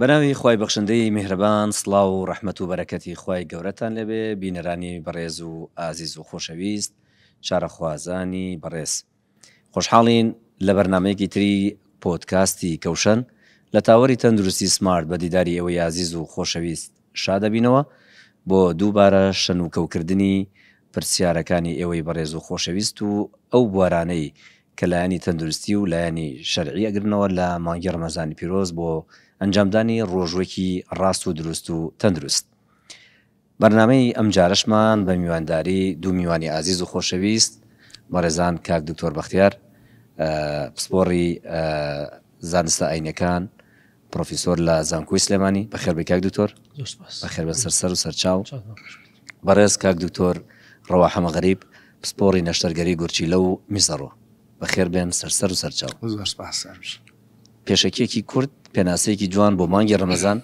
بەناوی خوای بەخشندەی میهرەبان سڵاو و ڕەحمەت و بەرەکەتی خوای گەورەتان لێبێ بینەرانی بەڕێز و ئازیز و خۆشەویست چارەخوازانی بەڕێز خۆشحاڵین لە بەرنمەیەکی تری پۆتکاستی کەوشەن لە تاوەری تەندروستی سمارت بە دیداری ئەوەی ئازیز و خۆشەویست شادبینەوە بۆ دووبارە شەنوکەوکردنی پرسیارەکانی ئێوەی بەڕێز و خۆشەویست و ئەو بوارانەی کە لایەنی تەندروستی و لایەنی شەرعی ئەگرنەوە لە مانگی ڕەمەزانی پیرۆز بۆ ئەنجامدانی ڕۆژوەکی ڕاست و دروست و تەندروست بەرنامەی ئەمجارەشمان بە میوانداری دوو میوانی ئازیز و خۆشەویست بەڕێزان کاک دکتۆر بەختیار پسپۆڕی زانستە ئاینەکان پڕۆفیسۆر لە زانکۆی سلێمانی. بەخێر بێی کاک دکتۆر. زۆر سوپاس. بەخێر بێن سەر سەر و سەر چاو. چاکم خۆش بێت. بەڕێز کاک دکتۆر ڕەوا حەمە غەریب پسپۆڕی نەشتەرگەری گورچیلە و میزەڕۆ. بەخێر بێن سەر سەر و سەر چاو. زۆر سوپاس سەر بژی. پێشەکیەکی کورت پێناسەیەکی جوان بۆ مانگی ڕەمەزان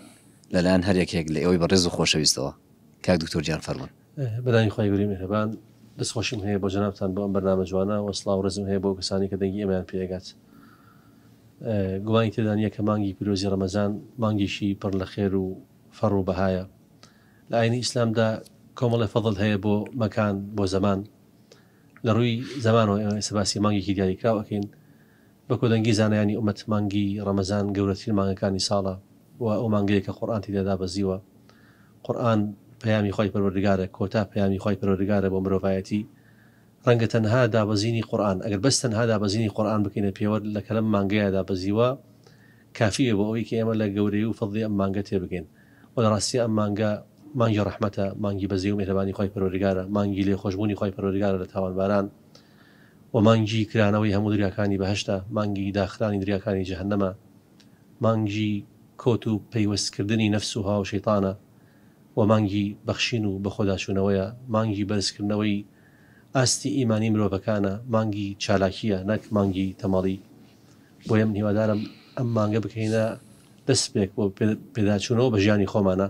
لەلایەن هەر یەکێک لە ئێوەی بەڕێز و خۆشەویستەوە کاک دکتۆر گیان فەرموون. بەناوی خوای گەورەی میهرەبان دەستخۆشیم هەیە بۆ جەنابتان بۆ ئەم بەرنامە جوانە وە سڵاو ڕێزم هەیە بۆ ئەو کەسانەی کە دەنگی ئێمەیان پێ ئەگات گومانی تێدا نییە کە مانگی پیرۆزی ڕەمەزان مانگێکی پڕ لە خێر و فەڕ و بەهایە لە ئاینی ئیسلامدا کۆمەڵی فەضل هەیە بۆ مەکان بۆ زەمان لە ڕووی زەمانەوە ئێمە ئێستا باسی مانگێکی دیاریکراو ئەکەین بە کۆدەنگی زانایانی ئومەت مانگی ڕەمەزان گەورەترین مانگەکانی ساڵە و ئەو مانگەیە کە قورئان تێیدا دابەزیوە، قورئان پەیامی خوای پەروەردگارە، کۆتا پەیامی خوای پەروەردگارە بۆ مرۆڤایەتی، ڕەنگە تەنها دابەزینی قورئان، ئەگەر بەس تەنها دابەزینی قورئان بکەینە پێوەر لە کەلەم مانگەیە دابەزیوە کافی بێ بۆ ئەوەی کە ئێمە لە گەورەیی و فەزڵی ئەم مانگە تێبگەین و لە ڕاستیدا ئەم مانگە مانگی ڕەحمەتە، مانگی بەزەیی و میهرەبانی خوای پەروەردگارە، مانگی لێخۆشبوونی خوای پەروەردگارە لە تاوانباران، وە مانگی کرانەوەی هەموو دەریاکانی بەهەشتە، مانگی داخرانی دەریاکانی جەهەنەمە، مانگی کۆت و پەیوەست کردنی نەفس و هەواو شەیتانە، وە مانگی بەخشین و بەخۆداچوونەوەیە، مانگی بەرز کردنەوەی ئاستی ئیمانی مرۆڤەکانە، مانگی چالاکیە نەک مانگی تەمەڵی، بۆیە من هیوادارم ئەم مانگە بکەینە دەسپێک بۆ پێداچوونەوە بە ژیانی خۆمانا.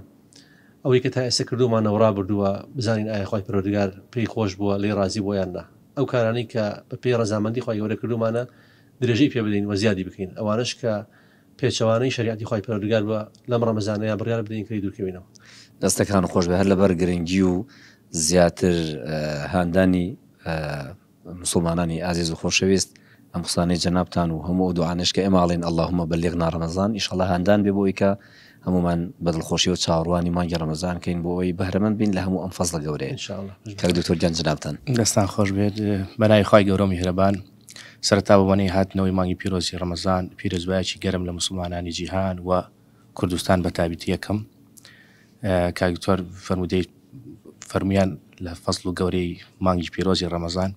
ئەوەی کە تا ئێستا کردوومانە و ڕابردووە، بزانین ئایا خوای پەروەردگار پێی خۆش بووە، لێی ڕازی بووە یان نا. ئەو کارانەی کە بە پێی ڕەزامەندی خوای گەورە کردوومانە، درێژەی پێ بدەین و زیادی بکەین، ئەوانەش کە پێچەوانەی شەریعەتی خوای پەروەردگار بووە، لەم ڕەمەزانەیا بڕیار بدەین کە لێی دوورکەوینەوە. دەستەکان خۆش بێ هەر لەبەر گرنگی و زیاتر هاندانی موسڵمانانی ئازیز و خۆشەویست ئەم قسانەی جەنابتان و هەموو ئەو دوعانەش کە ئێمە ئەڵێین اللهم بلغنا رمضان ئیشەڵا هاندان بێ بۆ ئەوی کە هەموومان بە دڵخۆشیەوە چاوەڕوانی مانگی رەمەزان کەین بۆ ئەوەی بەهرەمەند بین لە هەموو ئەم فەزڵە گەورەیە ان شاء اللە کاک دکتۆر گیان جەنابتان دەستان خۆش بێت بەناوی خوای گەورە و میهرەبان سەرەتا بە وەنەی هاتنەوەی مانگی پیرۆزی رەمەزان پیرۆزبایەکی گەرم لە موسڵمانانی جیهان و کوردستان بە تابیتی یەکەم کاک دکتۆر فەرموودەی فەرموویان لە فەزڵ و گەورەی مانگی پیرۆزی ڕەمەزان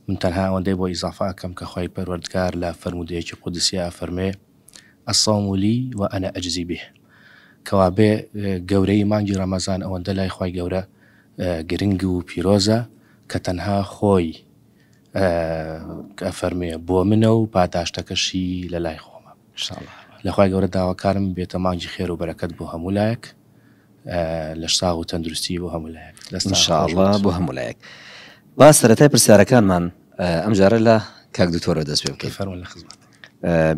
من تەنها ئەوەندەی بۆ ئیزافە ئەکەم کە خوای پەروەردگار لە فەرموودەیەکی قودسیا ئەفەرموێ الصوم لی و انا اجزی به کەوابێ گەورەی مانگی ڕەمەزان ئەوەندە لای خوای گەورە گرنگ و پیرۆزە کە تەنها خۆی ئەفەرموێ بۆ منە و پاداشتەکەشی لە لای خۆمە انشاءاللە لە خوای گەورە داواکارم بێتە مانگی خێر و بەرەکەت بۆ هەموو لایەک لەش ساغ و تەندروستی بۆ هەموو لایەک دەست ان شاء الله بۆ هەموو لایەک با سەرەتای پرسیارەکانمان ئەمجارە لە کاک دکتۆرەوە دەست پێ بکەین فەرموون لە خزمەت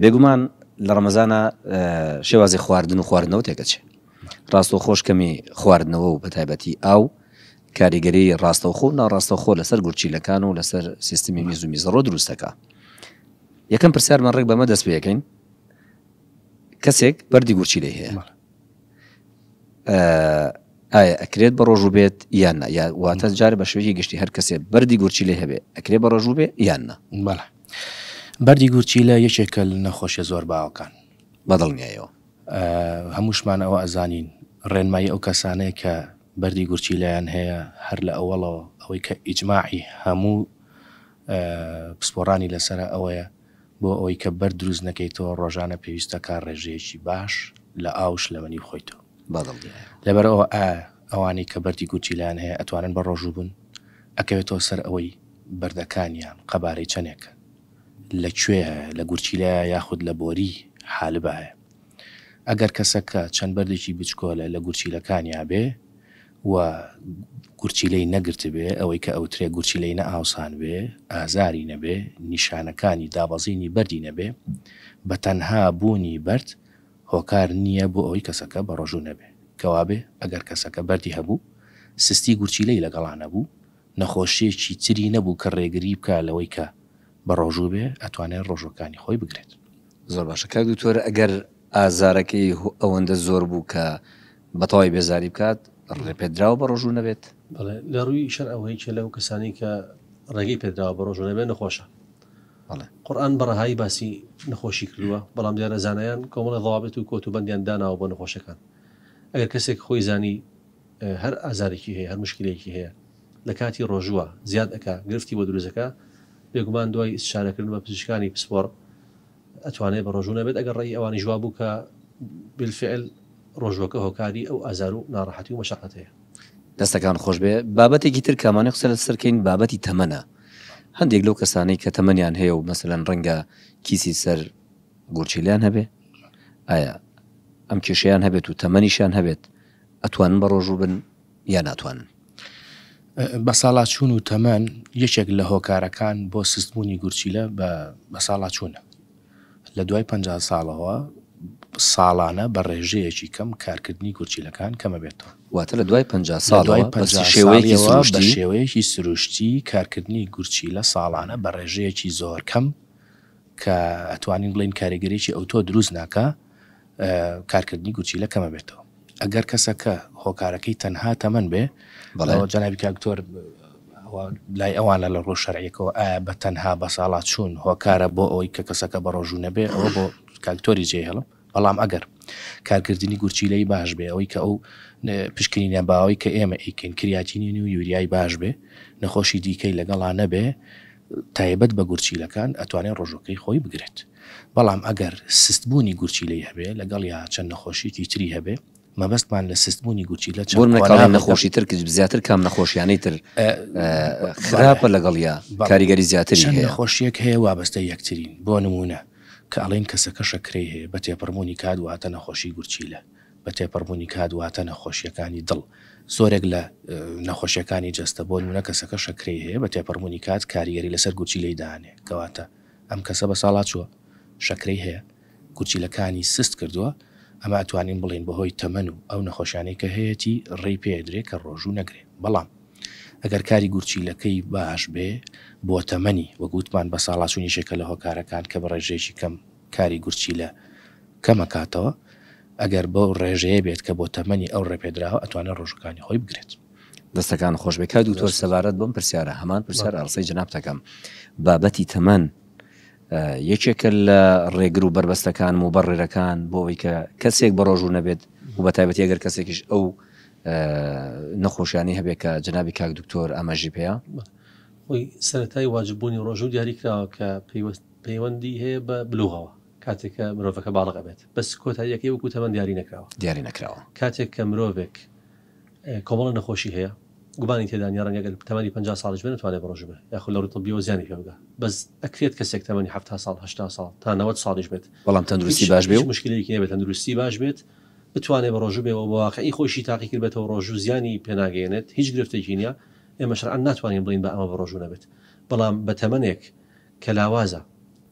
بێگومان لە ڕەمەزانە شێوازی خواردن و خواردنەوە تێکەچێ ڕاستەوخۆش کەمی خواردنەوە و بە تایبەتی ئاو کاریگەری ڕاستەوخۆ و ناڕاستەوخۆ لەسەر گورچیلەکان و لەسەر سیستمی میز و میزەڕۆ دروست دەکا یەکەم پرسیارمان ڕێک بەمە دەست پێەکەین کەسێک بەری گورچیلەی هەیە ئایا ئەکرێت بە ڕۆژوو بێت یان نە یا واتە جارە بە شوێکی گشتی هەر کەسێ بەری گورچی لێ هەبێ ئەکرێ بە ڕۆژوو بێ یان نە بەڵە بەری گورچی لە یەکێکە نەخۆشیە زۆر باوەکان بەدڵنیایەوە هەمووشمان ئەوە ئەزانین ڕێنمایی ئەو کەسانەیە کە بەردی گورچیلەیان هەیە هەر لە ئەوەڵەوە ئەوەی کە ئیجماعی هەموو پسپۆڕانی لەسەرە ئەوەیە بۆ ئەوەی کە بەرد دروست نەکەیتەوە ڕۆژانە پێویستە کا ڕێژەیەکی باش لە ئاو و شلەمەنی بخۆیتەوە لەبەر ئەوە ئایا ئەوانەی کە بەردی گورچیلەیان هەیە ئەتوانن بە ڕۆژوو بن ئەکەوێتەوە سەر ئەوەی بەردەکانیان قەبارەی چەنێکە لە کوێ هەیە لە گورچیلەیە یاخود لە بۆری حالبایە. ئەگەر کەسەکە چەند بەردێکی بچکۆلە لە گورچیلەکانیا بێ و گورچیلەی نەگرتبێ، ئەوەی کە ئەوترێ گورچیلەی نەئاوسان بێ، ئازاری نەبێ، نیشانەکانی دابەزینی بەردی نەبێ، بە تەنها بوونی بەرد هۆکار نییە بۆ ئەوەی کەسەکە بەڕۆژوو نەبێ. کەوابێ ئەگەر کەسەکە بەردی هەبوو، سستی گورچیلەی لەگەڵا نەبوو، نەخۆشییەکی تری نەبوو کە ڕێگری بکا لەوەی کە بەڕۆژوو بێ ئەتوانێ ڕۆژووەکانی خۆی بگرێت. زۆر باشە کاک دکتۆر ئەگەر ئازارەکەی ئەوەندە زۆر بوو کە بەتەوای بێزاری بکات ڕێ پێدراوە بە ڕۆژوو نەبێت؟ بەڵێ لە ڕووی شەر ئەوە یەکێ لەو کەسانی کە ڕێگەی پێدراوە بە ڕۆژوو نەبێت نەخۆشە بەڵێ قورآن بە ڕەهایی باسی نەخۆشی کردووە بەڵام دیارە زانایان کۆمەڵە ضوابط و کۆت و بەندیان داناوە بۆ نەخۆشەکان ئەگەر کەسێک خۆی زانی هەر ئازارێکی هەیە هەر موشکیلەیەکی هەیە لەکاتی ڕۆژووە زیاد ئەکا گرفتی بۆ دروست ئەکا بێگومان دوای ئیستشارەکردن بە پزیشکانی پسپۆڕ ئەتوانێت بە ڕۆژوو نەبێت ئەگەر ڕێی ئەوانی ژوا بوو کە بالفعل ڕۆژوەکە هۆکاری ئەو ئازار و ناڕەحەتی و مەشقەت هەیە دەستەکان خۆش بێ بابەتێکی تر کامانە قسە لە سەرکەین بابەتی تەمەە هەندێک لەو کەسانەی کە تەمەنیان هەیە و مەسەن ڕەنگە کیسی سەر گورچیلیان هەبێ ئایا ئەم کێشیان هەبێت و تەمەنیشان هەبێت ئەتوانن بەڕۆژوو بن یا ناتوانن؟ بەساڵاچوون و تەمەن یەکێک لە هۆکارەکان بۆ سستبوونی گورچیلە بە بەساڵاچوونە لە دوای پەنج ساڵەوە ساڵانە بە ڕێژەیەکی کەم کارکردنی گورچیلەکان کەمەبێتەوە واتە لە دوای پەنج ساڵەوە پەنج شێوەیەکی سروشتی شێوەیەکی سروشتی کارکردنی گورچیلە ساڵانە بە ڕێژەیەکی زۆر کەم کە ئەتوانین بڵین کاریگەریی ئەوتۆ دروست ناکە کارکردنی گورچیلە کەمەبێتەوە ئەگەر کەسەکە هۆکارەکەی تەنها تەمەن بێ بەڵێ جەنابی کاکتۆر لای ئەوانە لە ڕۆژ شەرعیەکەەوە ئایا بە تەنها بە ساڵات چوون هۆکارە بۆ ئەوەی کە کەسەکە بە ڕۆژوو نەبێ ئەوە بۆ کاکتۆری جێ هەڵم بەڵام ئەگەر کارکردنی گورچیلەی باش بێ ئەوەی کە ئەو پشکنینە باوەی کە ئێمە ئیکەین کریاتینین و یوریای باش بێ نەخۆشی دیکەی لەگەڵا نەبێ تایبەت بە گورچیلەکان ئەتوانێت ڕۆژوەکەی خۆی بگرێت بەڵام ئەگەر سست بوونی گورچیلەی هەبێت لەگەڵیا چەند نەخۆشیەکی تری هەبێت مەبەستمان لە سست بوونی گورچیلە چەند قۆناغێکە. بۆ مناڵان نەخۆشی تر زیاتر کام نەخۆشیانەی تر خراپە لەگەڵیا کاریگەری زیاتری هەیە؟ چەند نەخۆشیەک هەیە وابەستەی یەکترین بۆ نموونە کە ئەڵێن کەسەکە شەکرەی هەیە بە تێپەڕبوونی کات واتە نەخۆشی گورچیلە بە تێپەڕبوونی کات واتە نەخۆشییەکانی دڵ. زۆرێک لە نەخۆشییەکانی جەستە، بۆ نموونە کەسەکە شەکرەی هەیە بە تێپەڕبوونی کات کاریگەری لەسەر گورچیلەی دانێ کەواتە ئەم کەسە بەساڵاچووە شەکرەی هەیە گورچیلەکانی سست کردووە ئەمە ئەتوانین بڵێین بەهۆی تەمەن و ئەو نەخۆشیانەی کە هەیەتی ڕێی پێ ئەدرێ کە ڕۆژوو نەگرێ بەڵام ئەگەر کاری گورچیلەکەی باش بێ بۆ تەمەنی وەک وتمان بەساڵاچوونیش یەکە لە هۆکارەکان کە بە ڕێژەیەکی کەم کاری گورچیلە کەمەکاتەوە ئەگەر بەو ڕێژەیە بێت کە بۆ تەمەنی ئەو ڕێپێدراوە ئەتوانێت ڕۆژەکانی خۆی بگرێت. دەستەکانت خۆشبێت کاک دکتۆر سەبارەت بەم پرسیارە هەمان پرسیار ئاڕسەی جەنابتەکەم بابەتی تەمەن یەکێکە لە ڕێگر و بەربەستەکان و بەڕێرەکان بۆ ئەوی کە کەسێک بەڕۆژوو نەبێت و بە تایبەتی ئەگەر کەسێکیش ئەو نەخۆشیانی هەبێت کە جنابی کاک دکتۆر ئاماژی پێەیە خۆی سەتای واجببوونی ڕۆژوو دیاریکراوە کە پێیوەست پەیوەندی هەیە بە بلوغەوە کاتێک کە مرۆڤەکە باڵغ ئەبێت بەس کۆتاییەکەی وەکو تەمەن دیاری نەکراوە. دیاری نەکراوە. کاتێک کە مرۆڤێک کۆمەڵە نەخۆشی هەیە گومانی تێدا نیە ڕەنگە گەر تەمەنی پەنجا ساڵیش بێ نەتوانێ بڕۆژو بێ یاخود لە ڕووی طبیەوە زیانی پێ بگا بەس ئەکرێت کەسێک تەمەنی حەفتا ساڵ هەشتا ساڵ تا نەوەد ساڵیش بێت بەڵام تەندروستی باش بێ و هیچ موشکیلەیەکی نەبێت تەندروستی باش بێت بتوانێ بڕۆژو بێ و بەواقعی خۆیشی تاقی کردبێتەوە ڕۆژو زیانی پێ ناگەیەنێت هیچ گرفتێکی نیە ئێمە شەرعەن ناتوانین بڵێین بە ئەمە بڕۆژو نەبێت بەڵام بە تەمەنێک کە لاوازە،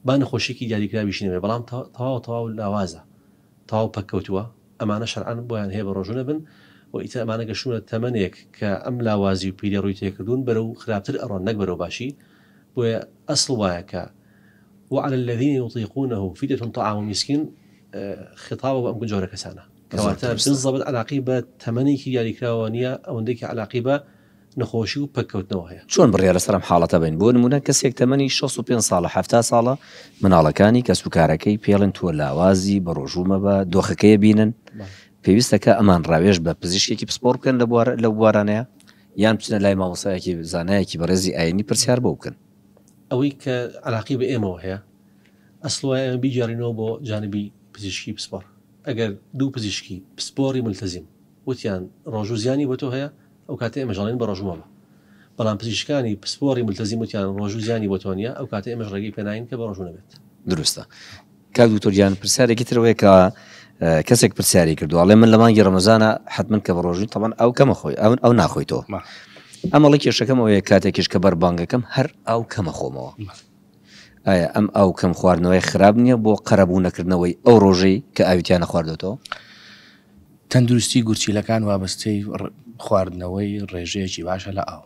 با نەخۆشیەکی دیاریکراویشی نەبێت، بەڵام تەواو تەواو لاوازە، تەواو پەککەوتووە، ئەمانە شەرعەن بۆیان هەیە بەڕۆژوو نەبن و ئیتر ئەمانە گەشتوونە تەمەنێک کە ئەم لاوازی و پیریە ڕووی تێکردوون بەرەو خراپتر ئەڕۆن نەک بەرەو باشی، بۆیە ئەسڵ وایە کە، وعلی الذین یطیقونە فدیە طعام مسکین، خیتابە بۆ ئەم جۆرە کەسانە، کەواتە بالزەبت عەلاقەی بە تەمەنێکی دیاریکراوەوە نیە، ئەوەندەی کە عەلاقەی بە. نەخۆشی و پەککەوتنەوە هەیە. چۆن بڕیار لەسەر ئەم حاڵەتە بەین؟ بۆ نموونە کەسێک تەمەنی شەست و پێنج ساڵە حەفتا ساڵە، مناڵەکانی، کەسوکارەکەی، پێڵێن تۆ لاوازی، بەڕۆژوو مەبە، دۆخەکەی بینن، پێویستە کە ئەمان ڕاوێژ بە پزیشکێکی پسپۆڕ بکەن لە بوار لەو بوارانەیە یان بچنە لای مامۆستایەکی زانایەکی بەڕێزی ئاینی پرسیار بۆ بکەن. ئەوەی کە عەلاقەی بە ئێمەوە هەیە ئەسڵ وایە ئێمە بیگێڕینەوە بۆ جانبی پزیشکی پسپۆڕ. ئەگەر دوو پزیشکی پسپۆڕی مولتەزیم وتیان ڕۆژوو زیانی بۆ تۆ هەیە، ئەوکاتە ئێمەش ئەڵێین بەڕۆژوو مەبە. بەڵام پزیشکانی پسپۆڕی مولتەزیم وتیان ڕۆژوو زیانی بۆ تۆ نیە، ئەوکاتە ئێمەش ڕێگەی پێ ناین کە بەڕۆژوو نەبێت. دروستە کاک دوکتور گیان، پرسیارێکی تر ئەوەیە کە کەسێک پرسیاری کردووە ئەڵێ من لە مانگی ڕەمەزانە حەتمەن کە بەڕۆژووین تەبەن ئەو کەمە خۆی ئەون ئەو ناخۆیتەوە ئەمەڵە کێشەکەم ئەوەیە کاتێکیش کە بەر بانگەکەم هەر ئاو کەمە خۆمەوە. ئایا ئەم ئاو کەم خواردنەوەیە خراپ نییە بۆ قەرەبوو نەکردنەوەی ئەو ڕۆژەی کە ئاوی تیا نەخواردۆتەوە؟ تەندروستی گورچیلەکان وابەستەی خواردنەوەی ڕێژەیەکی باشە لە ئاو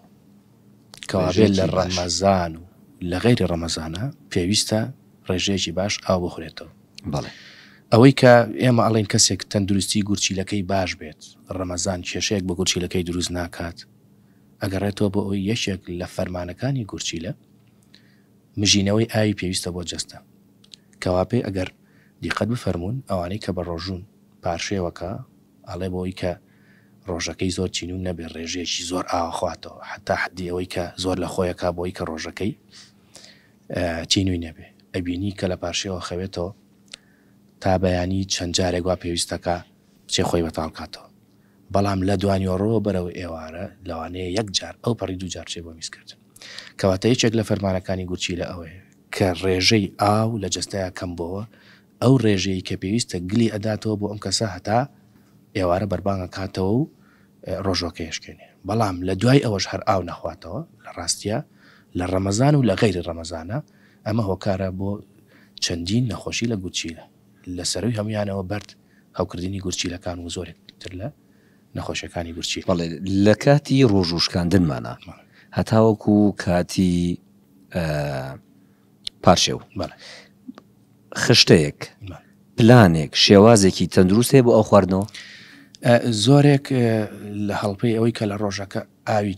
کەوابێت لە ڕەمەزان و لە غەیری ڕەمەزانە پێویستە ڕێژەیەکی باش ئاو بخورێتەوە بەڵێ ئەوەی کە ئێمە ئەڵێن کەسێک تەندروستی گورچیلەکەی باش بێت ڕەمەزان کێشەیەک بە گورچیلەکەی دروست ناکات ئەگەڕێتەوە بۆ ئەوی یەکێک لە فەرمانەکانی گورچیلە مژینەوەی ئاوی پێویستە بۆ جەستە. کەواپێ ئەگەر دیقەت بفەرموون ئەوانەی کە بە ڕۆژوون پارشێوەکە ئەڵێ بۆوەی کە ڕۆژەکەی زۆر چینوو نەبێ ڕێژەیەکی زۆر ئاوەخواتەوە حەتا حەدی ئەوەی کە زۆر لە خۆی ئەکا بۆوەی کە ڕۆژەکەی چینووی نەبێ ئەبینی کە لە پارشێوە ئەخەوێتەوە تا بەیانی چەند جارێک وا پێویستەکا بچێ خۆی بەتاڵ کاتەوە بەڵام لە دوانیۆڕۆوە بەرەو ئێوارە لەوانەیە یەک جار ئەو پەڕی دوو جار بچێ بۆ میزکردن. کەواتە یەکێک لە فەرمانەکانی گورچیلە ئەوەیە کە ڕێژەی ئاو لە جەستەیا کەمبۆوە، ئەو ڕێژەی کە پێویستە گلی ئەداتەوە بۆ ئەم کەسە هەتا ئێوارە بەربانگ ئەکاتەوە و ڕۆژوەکەی ئەشکێنێ بەڵام لە دوای ئەوەش هەر ئاو نەخواتەوە لە ڕاستیا لە ڕەمەزان و لە غەیری ڕەمەزانا ئەمە هۆکارە بۆ چەندین نەخۆشی لە گورچیلە لە سەروی هەمویانەوە بەرد هەوکردنی گورچیلەکان و زۆرێک تر لە نەخۆشەکانی ورچی. بەڵێ لە کاتی ڕۆژ و شکاندنمانە هەتاوەکو کاتی پارشێو خشتەیەک پلانێک شێوازێکی تەندروستێ بۆ ئەو خواردنەوە زۆرێک لە هەڵپەی ئەوەی کە لە ڕۆژەکە ئاوی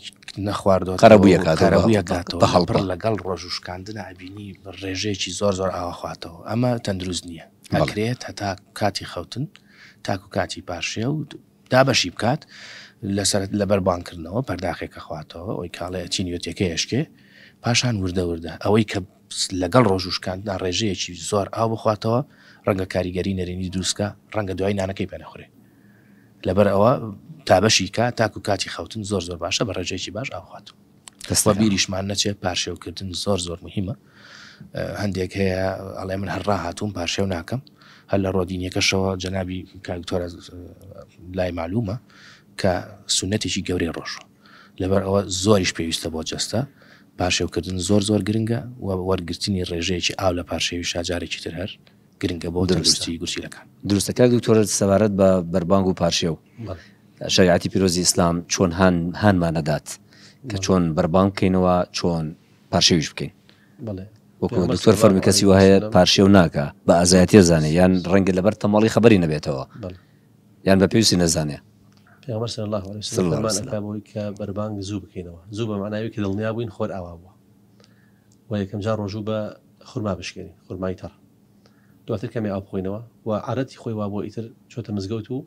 نەخواردوە قەرەبوویەکاتەوە بە هەڵپڕ لەگەڵ ڕۆژ و شکاندنا ئەبینی ڕێژەیەکی زۆر زۆر ئاوەخواتەوە ئەمە تەندروست نییە ئەکرێت هەتا کاتی خەوتن تاکو کاتی پارشێ و دابەشی بکات لەسەرت لەبەر بانکردنەوە پەرداخێکە خواتەوە ئەوی کاڵەیە چینیوتەکەیشکێ پاشان وردە وردە ئەوەی کە لەگەڵ ڕۆژوو شکاندنا ڕێژەیەکی زۆر ئاو بخواتەوە، ڕەنگە کاریگەری نەرێنی دروست کا، ڕەنگە دوایی نانەکەی پێ نەخورێ. لەبەر ئەوە تا بەشی کا تاکو کاتی خەوتن زۆر زۆر باشە بە ڕێژەیەکی باش ئاو بخوات. وە بیریشمان نەچێ پارشێو کردن زۆر زۆر موهیمە هەندێک هەیە ئەڵێ من هەر ڕاهاتووم پارشێو ناکەم هەر لە ڕۆدینیەکەشەوە جەنابی کاک دکتۆرە لای مەعلومە کە سونەتێکی گەورەی ڕۆژوە. لەبەر ئەوە زۆریش پێویستە بۆ جەستە، پارشێوکردن زۆر زۆر گرنگە و وەرگرتنی ڕێژەیەکی ئاو لە پارشێوی شا جارێکی تر هەر گرنگە بۆ تەندروستی گورچیلەکان. دروستە کاک دکتۆر سەبارەت بە بەربانگ و پارشێو شریعەتی پیرۆزی ئیسلام چۆن هانمان دەدات کە چۆن بەربانگ بکەینەوە چۆن پارشێویش بکەین وەکو دکتۆر فەرمی کەسی وهەیە پارشێو ناکە بە ئازایەتە زانێ یان ڕەنگە لەبەر تەماڵی خبری نەبێتەوە یان بە پێویستی نەزانێ پێغمبەر صلی الله علیه وسلم فەرمان ئەکا بۆی کە بەربانگ زوو بکەینەوە زوو بە معناوی کە دڵنیا بووین خۆر ئاوا بووە و یەکەم جار ڕۆژوو بە خورما بشکێنی خورمای تەڕ دواتر کەمی ئاو بخۆینەوە و عادەتی خۆی وا بۆ ئیتر چۆتە مزگەوت و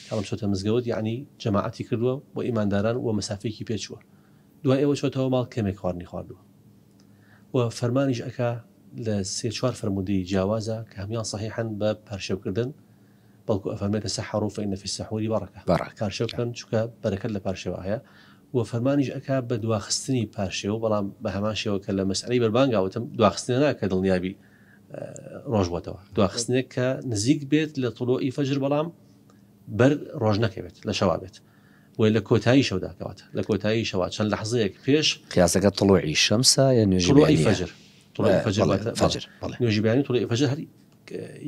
کاڵم چۆتە مزگەوت یعنی جەماعەتی کردووە بۆ ئیمانداران و مەسافێکی پێچووە دوای ئێوە چۆتەوە ماڵ کەمێک خواردنی خواردووە و فەرمانیش ئەکا لە سێ چوار فرموودەی جیاوازە کە هەمان صحیحەن بە پارشێوکردن بەڵکو ئەفەرمێ تسحرو فان فی السحور برکە، پارشێو بکەن چونکە بەرەکەت لە پارشێوە هەیە، وە فەرمانیش ئەکا بە دواخستنی پارشێو، بەڵام بە هەمان شێوە کە لە مەسئەلەی بەربانگا وتم دواخستنێ نا کە دڵنیابی ڕۆژ بۆتەوە، دواخستنێک کە نزیک بێت لە طلوعی فجر بەڵام بەر ڕۆژ نەکەوێت لە شەوا بێت وە لە کۆتایی شەودا کەواتە لە کۆتایی شەوا چەند لەحزەیەک پێش قیاسەکە طلوعی شەمسە یا نوێژی بەیانی؟ طلوعی فجر طلوعی فجر واتە فجر بەڵێ نوێژی بەیانی طلوعی فجر هەر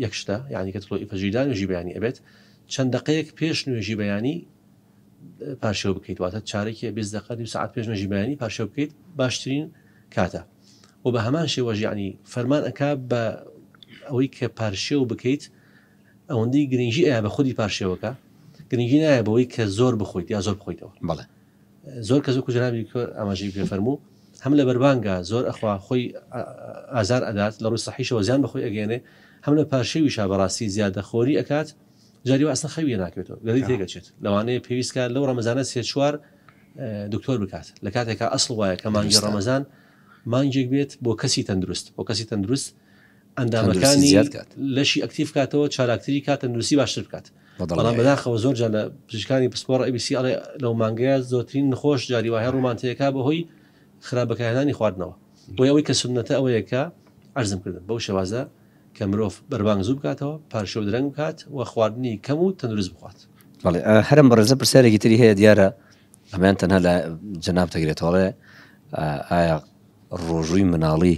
یەک شتە یانی کە تڵۆ ئیفەجی دا نوێژی بەیانی ئەبێت چەند دەقەیەک پێش نوێژی بەیانی پارشێو بکەیت واتە چارێکی بێز دەقە دو ساعت پێش نوێژی بەیانی پارشێو بکەیت باشترین کاتە و بە هەمان شێوەژ ینی فەرمان ئەک بە ئەوەی کە پارشێو بکەیت ئەوەندەی گرنگی ئەیە بە خودی پارشێوەکە گرنگی نایە بەوەی کە زۆر بخۆیت یا زۆر بخۆیتەوە بڵێ زۆر کەس وەکو جەنابی کۆ ئاماژەی پێ فەرموو هەم لە بەربانگا زۆر ئەخوا خۆی ئازار ئەدات لە ڕووی سەحیشەوە زیان بەخۆی ئەگەیەنێ هەم لە پارشێویشا بەڕاستی زیادە خۆری ئەکات جاری وا ئەسڵەن خەوی لێ ناکەوێتەوە گەدەی تێ گەچێت لەوانەیە پێویست کات لەو ڕەمەزانە سێ چوار دکتۆر بکات لە کاتێکا ئەسڵ وایە کە مانگی ڕەمەزان مانگێک بێت بۆ کەسی تەندروست بۆ کەسی تەندروست ئەندامەکانی لەشی ئەکتیف کاتەوە چاراکتری کات تەندروستی باشتر بکات بەڵام بەداخەوە زۆر جا لە پزیشکانی پسپۆڕ ئەبیسی ئەڵێ لەو مانگەیە زۆترین نخۆش جاری وایە ڕومانتەیەەکە بەهۆی خراپەکانانی خواردنەوە بۆ ئەوەی کە سنەتە ئەوەیەکە ئەرزم کردن بەو شێوازە کە مرۆڤ بەربانگ زوو بکاتەوە پارشە و درەنگ بکات و خواردنی کەم و تەندروست بخوات هەرم بەڕێزە پرسیارێکی تری هەیە دیارە ئەمان تەنها لە جەناب دەگرێتەوەڵێ ئایا ڕۆژووی مناڵی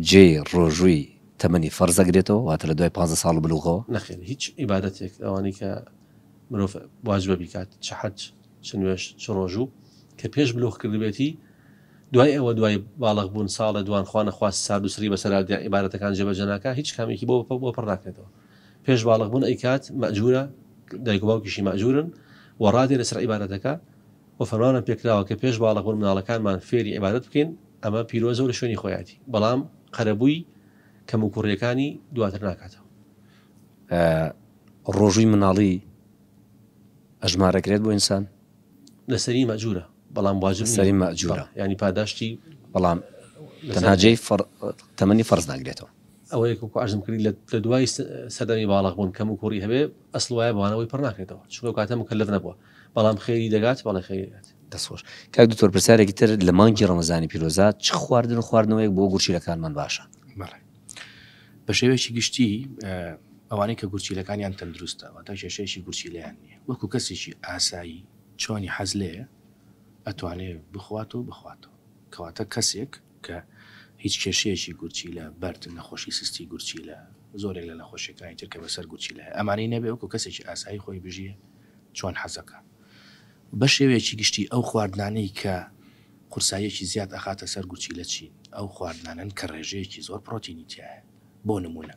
جێی ڕۆژووی تەمەنی فەرز دەگرێتەوە، واتە لە دوای پانزە ساڵ و بلوغەوە. نەخێر، هیچ عیبادەتێک ئەوانەی کە مرۆڤ واجبە بیکات، چ حەج، چ نوێژ، چ ڕۆژوو، کە پێش بلوغ کردبێتی، دوای ئەوە دوای بالغ بوون ساڵێ دوان خوا نەخواست سارد و سڕی بەسەرا دێ عیبادەتەکان جێبەجێ ناکا، هیچ کامێکی بۆ بۆ پڕ ناکرێتەوە، پێش بالغ بوون ئەیکات، مەئجورە، دایک و باوکیشی مەئجورن، و ڕادێ لەسەر عیبادەتەکە، وە فەرمانمان پێکراوە کە پێش باڵغ بوون مناڵەکانمان فێری عیبادەت بکەین، ئەمە پیرۆزە و لە شوێنی خۆیاتی، بەڵام قەرەبووی کەموکوڕیەکانی دواتر ناکاتەوە. ئایا ڕۆژووی مناڵی ئەژمارەکرێت بۆ ئینسان؟ لەسەری مەئجورە بەڵام واجب نیە. لەسەری مەئجورە. بەڵێ یانی پاداشتی بەڵام تەنها جێی فەڕ تەمەنی فەرز ناگرێتەوە. ئەوەیەک وەکو عەرزم کردی لە لە دوای سەردەمی باڵغ بوون کەموکوڕی هەبێ ئەسڵ وایە بەوانەوەی پڕ ناکرێتەوە چونکە ئەو کاتە موکەلەف نەبووە. بەڵام خێری دەگات بەڵێ خێری دەگات. دەست خۆش. کاک دکتۆر پرسیارێکی تر لە مانگی ڕەمەزانی پیرۆزە چ خواردن و خواردنەوەیەک بۆ گورچیلەکانمان باشە؟ بەڵێ. بە شێوەیەکی گشتی ئەوانەی کە گورچیلەکانیان تەندروستە واتە کێشەیەکی گورچیلەیان نییە وەکو کەسێکی ئاسایی چۆنی حەز لێیە ئەتوانێ بخوات و بخواتەوە کەواتە کەسێک کە هیچ کێشەیەکی گورچیلە بەرد نەخۆشی سستی گورچیلە زۆرێک لە نەخۆشیەکانی تر کە بەسەر گورچیلە ئەمانەی نەبێ وەکو کەسێکی ئاسایی خۆی بژیە چۆن حەزەکا بەشێوەیەکی گشتی ئەو خواردنانەی کە قورساییەکی زیاد ئەخاتە سەر گورچیلە چین؟ ئەو خواردنانەن کە ڕێژەیەکی زۆر پڕۆتینی تیایە بۆ نمونە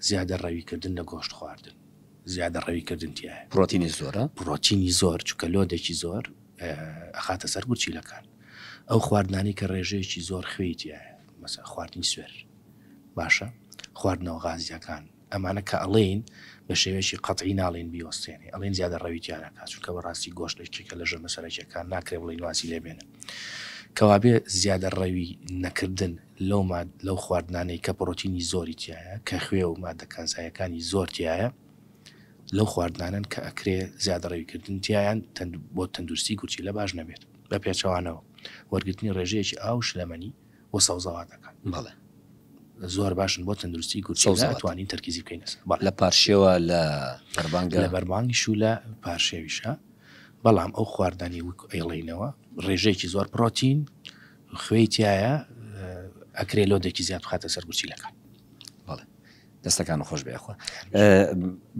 زیادە ڕەویکردن لە گۆشت خواردن زیادە ڕەویکردن تیایە. پڕۆتینی زۆرە؟ پڕۆتینی زۆر چونکە لۆدێکی زۆر ئەخاتە سەر گورچیلەکان ئەو خواردنانەی کە ڕێژەیەکی زۆر خوێی تیایە مەسەن خواردنی سوێر باشە خواردنەوە غازیەکان. ئەمانە کە ئەڵێین بە شێوەیەکی قەتعی ناڵێین بیوەستێنێ، ئەڵێین زیادەڕەوی تیا نەکا، چونکە بەڕاستی گۆشت یەکێکە لە ژەمە سەرەکییەکان، ناکرێ بڵێین وازی لێ بێنە. کەوابێ زیادەڕەوی نەکردن لەو ماد لەو خواردنانەی کە پڕۆتینی زۆری تیایە، کە خوێ و ماددە کانزاییەکانی زۆر تیایە، لەو خواردنانەن کە ئەکرێ زیادەڕەوی کردن تیایان بۆ تەندروستی گورچیلە باش نەبێت. بە پێچەوانەوە وەرگرتنی ڕێژەیەکی ئاو و شلەمەنی بۆ سەوزەواتەکان. بەڵێ زۆر باشن بۆ تەندروستی گورچیلە سەوزەوات. ئەتوانین تەرکیزی بکەین لەسەر. بەڵێ. لە پارشێوە لە بەربانگە. لە بەربانگیش و لە پارشێویشا بەڵام ئەو خواردنانەی وەک ئەیڵێینەوە ڕێژەیەکی زۆر پڕۆتین خوێی تیایە ئەکرێ لۆدێکی زیاد بخاتە سەر گورچیلەکان. بەڵێ دەستەکانت خۆش بێ یاخوا.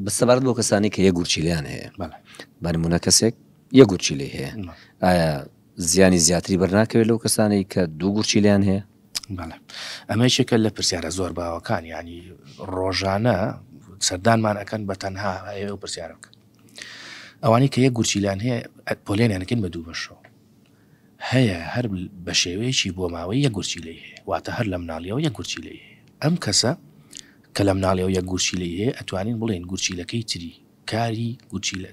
بە سەبارەت بۆ کەسانی کە یەک گورچیلەیان هەیە. بەڵێ. بە نموونە کەسێک یەک گورچیلەی هەیە. ئایا. زیانی زیاتری بەرناکەوێت لەو کەسانەی کە دوو گورچیلیان هەیە؟ بەڵێ ئەمە یەکێکە لە پرسیارە زۆر باوەکان ینی ڕۆژانە سەردانمان ئەەکەن بە تەنها ئەوێ و پرسیارە بکە ئەوانی کە یە گورچیلان هەیە پۆلێنێنەکەن بە دوو بەشەوە هەیە هەر بە شێوەیەکی بۆ ماوەی یە گورچی لی هەیە واتە هەر لە مناڵیەوە یە گورچی لی ئەم کەسە کە لە مناڵیەوە یە گورچی لی هەیە ئەتوانین بڵێن گورچیلەکەی تری کاری گورچیلە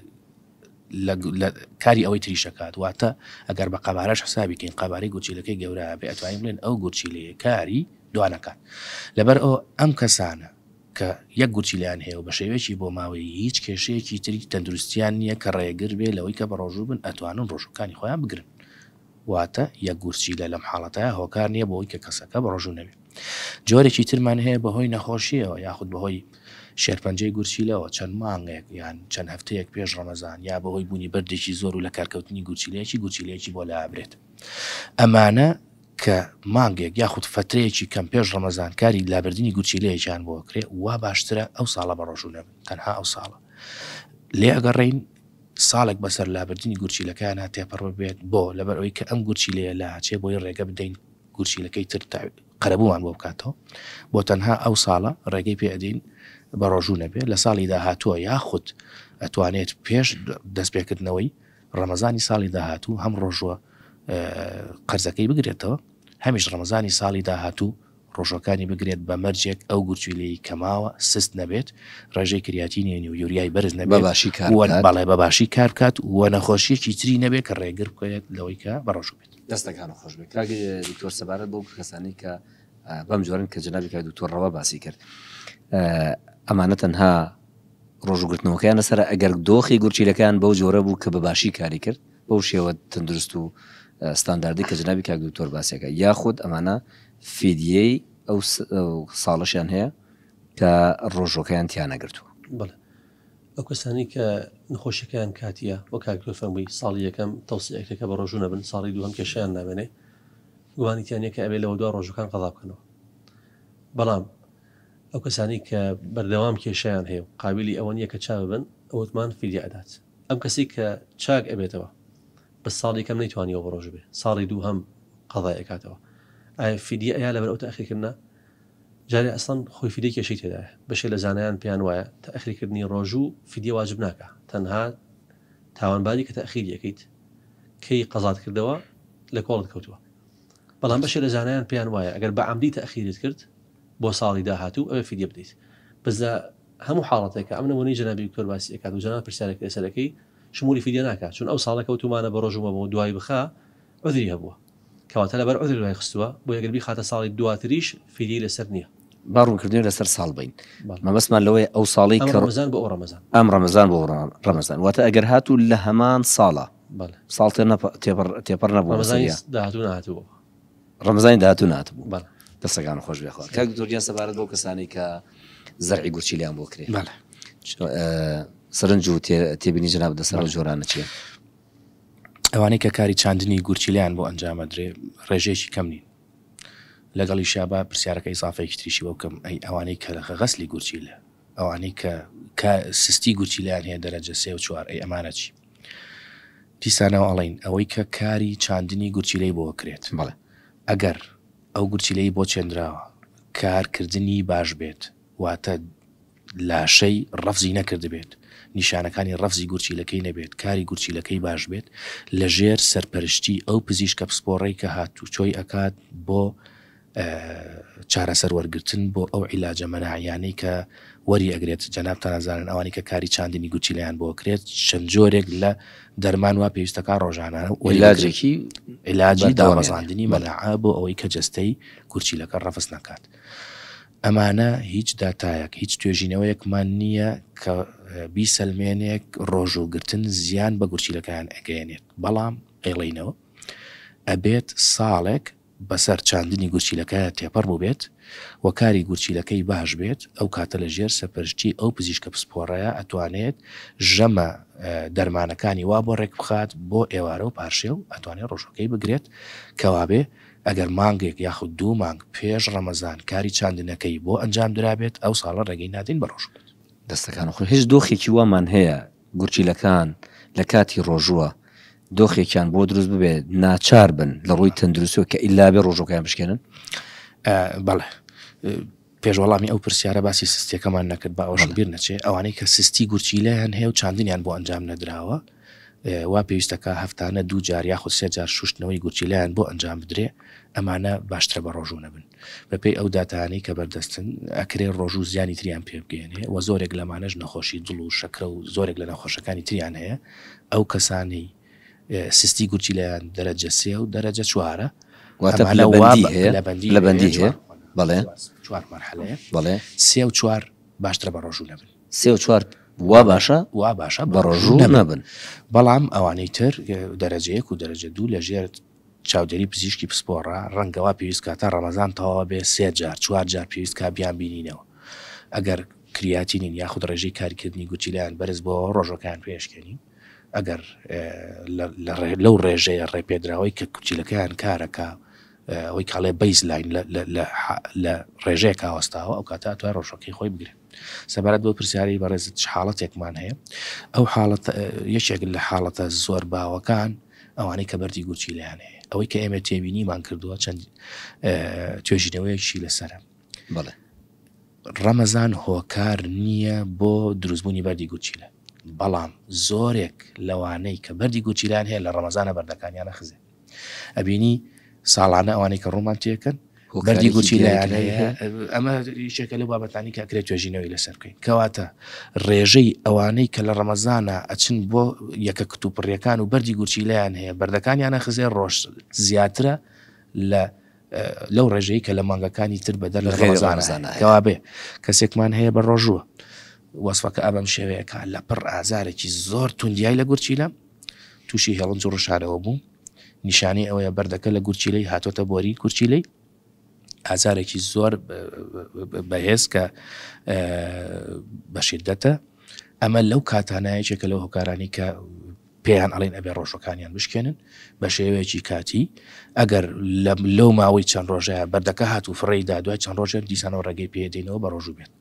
لە لە کاری ئەوەی تریش دەکات واتە ئەگەر بە قەبارەش حسابی بکەین قەبارەی گورچیلەکەی گەورە بێ ئەتوانین بڵێن ئەو گورچیلەیە کاری دوانەکات لەبەر ئەو ئەم کەسانە کە یەک گورچیلیان هەیە و بە شێوەیەکی بۆ ماوەی هیچ کێشەیەکی تری تەندروستیان نییە کە ڕێگر بێ لەوەی کە بەڕۆژوو بن ئەتوانن ڕۆژووەکانی خۆیان بگرن واتە یەک گورچیلە لەم حاڵەتەیا هۆکار نییە بۆوەی کە کەسەکە بەڕۆژوو نەبێت. جۆرێکی ترمان هەیە بەهۆی نەخۆشییەوە یاخود بەهۆی شێرپەنجەی گورچیلەوە چەند مانگێک یان چەند هەفتەیەک پێش ڕەمەزان یا بەهۆی بوونی بەردێکی زۆر و لەکارکەوتنی گورچیلەیەکی گورچیلەیەکی بۆ لابرێت ئەمانە کە مانگێک یاخود فەترەیەکی کەم پێش ڕەمەزان کاری لابردنی گورچیلەیەکیان بۆکرێ وا باشترە ئەو ساڵە بەڕۆژوو نەبن تەنها ئەو ساڵە لێ ئەگەڕێین ساڵێک بەسەر لابردنی گورچیلەکەیانا تێپەڕ ببێت، بۆ؟ لەبەر ئەوەی کە ئەم گورچیلەیە لاچێ بۆیە ڕێگە بدەین گورچیلەکەی تر تا قەرەبوومان بۆ بکاتەوە، بۆ تەنها ئەو ساڵە ڕێگەی پێ ئەدەین بەڕۆژوو نەبێ، لە ساڵی داهاتووە یاخود ئەتوانێت پێش دەست پێکردنەوەی ڕەمەزانی ساڵی داهاتوو هەم ڕۆژووە قەرزەکەی بگرێتەوە هەمیش ڕەمەزانی ساڵی داهاتوو ڕۆژەکانی بگرێت بە مەرجێک ئەو گورچیلەی کە ماوە سست نەبێت، ڕێژەی کریاتینێنی و یوریای بەرز نەبێت و بەڵێ بە باشی کار بکات و نەخۆشیەکی تری نەبێت کە ڕێگر بکەێت لەوەی کە بەڕۆژوو بێت. دەستەکانت خۆش بێت کاک دکتۆر سەبارەت بەو کەسانی کە بەم جۆرن کە جەنابی کاک دکتۆر ڕەوا باسی کرد ئەمانە تەنها ڕۆژوگرتنەوەکەیان لەسەر ئەگەر دۆخی گورچیلەکان بەو جۆرە بوو کە بە باشی کاری کرد بەو شێوە تەندروست و ستانداردەی کە جەنابی کاک دکتۆر باسی ئەکا یاخود ئەمانە فیدیەی ئەو ساڵەشیان هەیە کە ڕۆژۆکەیان تیا نەگرتووە بڵێ ئەو کەسانی کە نخۆشەکەیان کاتیە وە کاکتۆر فەرمووی ساڵی یەکەم تەوسەکە کە بە ڕۆژوو نەبن ساڵی دووهم کێشیان نامێنێ گوانیتیانە کە ئەوێ لەوە دو ڕۆژەکان قەڵا بکەنەوە بەڵام ئەو کەسانی کە بەردەوام کێشیان هەیە و قابلی ئەوەن یەکە چا ببن ئەوتمان فیدیا ئەدات ئەم کەسەی کە چاک ئەبێتەوە بەس ساڵی یەکەم نەیتوانیوە بەڕۆژو بێ ساڵی دووهەم قەزای ئەکاتەوە ئایە فیدیە ئەیا لەبەر ئەو تاخیر کردنە جارێ ئەسڵەن خۆی فیدیە کێشەی تێدایە بەشێ لە زانایان پێیان وایە تاخیر کردنی ڕۆژو فیدیە واجب ناکا تەنها تاوانباری کە تاخیری ئەکەیت کەی قەزات کردەوە لە کۆڵت کەوتووە بەڵام بەشێ لە زانایان پێیان وایە ئەگەر بە عەمدی تاخیرت کرد بۆ ساڵی داهاتوو ئەبێ فیدیە بدەیت بەس لە هەموو حاڵەتێکا ئەم نمونەی جەنابی دکتۆر باسی ئەکات و جەنابت پرسیارێک لەسەر ئەکەی شمولی فیدیە ناکات چون ئەو ساڵە کەوتومانە بە ڕۆژ و مەبەو دوای بخا عوزری هەبووە کەواتە لەبەر عوزر دوای خستووە بۆیە گەر بیخاتە ساڵی دواتریش فیدیەی لەسەر نیە. با ڕوونکردنەوەی لەسەر ساڵ بەین مەبەستمان لەوەیە ئەو ساڵی کە ئەم ڕەمەزان بۆ ئەو ڕەمەزان ئەم ڕەمەزان بۆ ڕەمەزان واتە ئەگەر هاتوو لە هەمان ساڵە بەڵێ ساڵ تێ نەپە تێپەڕ تێپەڕ نەبوو ڕەمەزانی داهاتوو نەهاتووە. ڕەمەزانی داهاتوو ناتبوو بەڵێ دەستەکان خۆش بێ خۆت کاک دکتۆر گیان سەبارەت بۆ کەسانی کە زەرعی گورچیلیان بۆ کرێ بەڵێ سەرنج و تێبینی جناب دەسەر و جۆرانە چیە ئەوانەی کە کاری چاندنی گورچیلیان بۆ ئەنجامە درێ ڕێژەیەکی کەم نین لەگەڵی شابا پرسیارەکە ئیسافێکتریشی بۆ بکەم ئەی ئەوانەی کەرەخە غەسلی گورچیلە ئەوانەی کە کا سستی گورچیلەیان هەیە دەرەجە سێ و چوار ئەی ئەمانە چی؟ دیسانەوە ئەڵێین ئەوەی کە کاری چاندنی گورچیلەی بۆ کرێت بەڵێ. ئەگەر ئەو گورچیلەی بۆ چێندراوە کار کردنی باش بێت واتە لاشەی ڕەفزی نەکردبێت نیشانەکانی ڕەفزی گورچیلەکەی نەبێت کاری گورچیلەکەی باش بێت لە ژێر سەرپەرشتی ئەو پزیشکە پسپۆڕەی کە هاتوچۆی ئەکات بۆ چارەسەر وەرگرتن بۆ ئەو عیلاجە مەناعیانەی کە وەری ئەگرێت جەنابتان ئەزانن ئەوانی کە کاری چاندنی گورچیلەیان بۆ کرێت چەند جۆرێک لە دەرمان وا پێویستەکە ڕۆژانە وەلاجێکی علاجی داڕزاندنی مەناعە بۆ ئەوەی کە جەستەی گورچیلەکە ڕەفس نکات ئەمانە هیچ داتایەک هیچ توێژینەوەیەکمان نییە کە بیسەلمێنێک ڕۆژوگرتن زیان بە گورچیلەکان ئەگەێنێت بەڵام ئەڵینەوە ئەبێت ساڵێک بەسەر چاندنی گورچیلەکە تێپەڕ بووبێت و کاری گورچیلەکەی باش بێت ئەو کاتە لە ژێر سەرپەرشتی ئەو پزیشکە پسپۆڕەیە ئەتوانێت ژەمە دەرمانەکانی وا بۆ ڕێک بخات بۆ ئێوارە و پارشێو ئەتوانێت ڕۆژووەکەی بگرێت کەوابێ ئەگەر مانگێک یاخود دوو مانگ پێش ڕەمەزان کاری چاندنەکەی بۆ ئەنجام درابێت ئەو ساڵە ڕێگەی نادەین بە ڕۆژوو بێت. دەستەکانت خۆش هیچ دۆخێکی وامان هەیە گورچیلەکان لە کاتی ڕۆژووە دۆخێکیان بۆ دروست ببێ ناچار بن لە ڕووی تەندروستەوە کە ئیلابێ ڕۆژۆکەیان بشکێنن؟ بەڵێ پێش وەڵامی ئەو پرسیارە باسی سستیەکەمان نەکرد بە ئەوش بیر نەچێ ئەوانەی کە سستی گورچیلەیان هەیە و چاندنیان بۆ ئەنجام نەدراوە وا پێویستەکە هەفتانە دوو جار یاخود سێ جار شوشتنەوەی گورچیلەیان بۆ ئەنجام بدرێ ئەمانە باشترە بە ڕۆژوو نەبن. بەپێی ئەو داتایانەی کە بەردەستن ئەکرێ ڕۆژوو زیانی تریان پێبگەێنێ و زۆرێک لەمانەش نەخۆشی دڵ و شەکرە و زۆرێک لە نەخۆشەکانی تریان هەیە ئەو کەسانی سستی گورچیلیان دەرەجە سێ و دەرەجە چوارە لەبندی لەبندی بەڵێ چوار مەرحەلەیە بەڵێ سێ و چوار باشترە بە ڕۆژوو نەبن سێ و چوار وا باشە وا باشە بە ڕۆژوو نەبن بەڵام ئەوانەی تر دەرەجەیەک و دەرەجە دوو لە ژێر چاودێری پزیشکی پسپۆڕە، ڕەنگە وا پێویست کا تا ڕەمەزان تەواو بێت سێ جار چوار جار پێویست کا بیانبینینەوە ئەگەر کریاتینین یاخود ڕێژەی کاریکردنی گورچیلەیان بەرز بۆوە ڕۆژەکەیان پێ شکێنین ئەگەر لەو ڕێژەیە ڕێپێدراوەی کە کورچیلەکەیان کارەکا ئەوەی کاڵێ بەیس لاین لە ڕێژەیەکا وەستاوە ئەو کاتە ئەتوای ڕۆژەکەی خۆی بگرێ. سەبارەت بەو پرسیارەی بەڕێزت چ حاڵەتێکمان هەیە؟ ئەو حاڵەت یەکێک لە حاڵەتە زۆر باوەکان ئەوانەی کە بەردی گورچیلیان هەیە ئەوەی کە ئێمە تێبینیمان کردووە چەند توێژینەوەیەکی لەسرە بڵێ ڕەمەزان هۆکار نییە بۆ دروستبوونی بەردی گورچیلە بەڵام زۆرێک لەوانەی کە بەردی گورچیلان هەیە لە ڕەمەزانە بەردەکانیانە خزێ ئەبینی ساڵانە ئەوانەی کە ڕوومان تێکن بەردی گوچی لایەن ئەمە یشێکە لە بابەتانی کاکرێت توێژینەوەی لەسەر بکەین کەواتە ڕێژەی ئەوانەی کە لە ڕەمەزانە ئەچن بۆ یەکە کتوپڕیەکان و بەردی گورچی لایەن هەیە بەردەکانیانە خزێ ڕۆژ زیاترە لە لەو ڕێژەی کە لە مانگەکانی تر بەدەر لە ڕێزانە کەوا بێ کەسێکمان هەیە بە ڕۆژووە وەسفەکە ئەبەم شێوەیەکە لە پڕ ئازارێکی زۆر توندیای لە گورچی لەم تووشی هێڵنج و ڕشانەوە بوو، نیشانەی ئەوەیە بەردەکە لە گورچیلەی هاتۆتە بۆری گورچیلەی، ئازارێکی زۆر بەهێز کە بەشیدەتە، ئەمە لەو کاتانایەکێکە لەو هۆکارانی کە پێیان ئەڵین ئەبێ ڕۆژەکانیان بشکێنن بە شێوەیەکی کاتی ئەگەر لەو ماوەی چەند ڕۆژەیە بەردەکە هات و فڕێدا دوای چەند ڕۆژێن دیسانەوە ڕێگەی پێدەینەوە بە ڕۆژوو بێت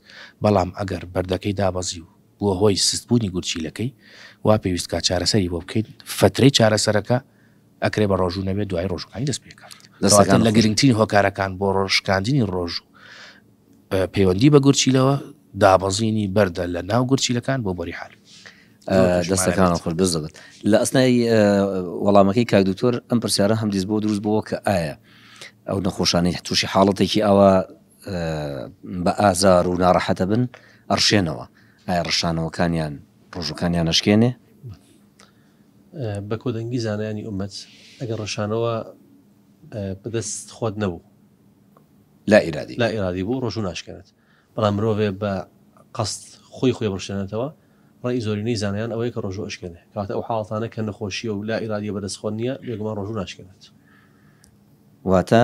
بەڵام ئەگەر بەردەکەی دابەزی و بووە هۆی سست بوونی گورچیلەکەی وا پێویست کا چارەسەری بۆ بکەین فەترەی چارەسەرەکە ئەکرێ بە ڕۆژوو نەبێت دوای ڕۆژوەکانی دەست پێ کات دەستەکان لە گرنگترین هۆکارەکان بۆ ڕۆژکاندنی ڕۆژوو پەیوەندی بە گورچیلەوە دابەزینی بەردە لە ناو گورچیلەکان بۆ بۆری حال دەستەکان خۆش بز دەبێت لە ئەسنای وەڵامەکەی کاک دکتۆر ئەم پرسیارە هەم دیز بۆ دروست بۆ کە ئایا ئەو نەخۆشانەی تووشی حاڵەتێکی ئەوە بە ئازار و ناڕەحەتەبن ئەڕشێنەوە ئایا ڕشانەوەکانیان ڕۆژەکانیان ئەشکێنێ؟ بەکۆدەنگی زانایانی ئومەت ئەگەر ڕشانەوە بەدەست خۆت نەبوو لا ئیرادی لا ئیرادی بوو ڕۆژوو ناشکێنێت بەڵام مرۆڤێ بە قەست خۆی خۆی بڕشێنێتەوە ڕای زۆرینەی زانایان ئەوەیە کە ڕۆژوو ئەشکێنێ کەواتە ئەو حاڵەتانە کە نەخۆشیە و لا ئیرادیە بەدەست خۆت نییە بێگومان ڕۆژوو ناشکێنێت واتە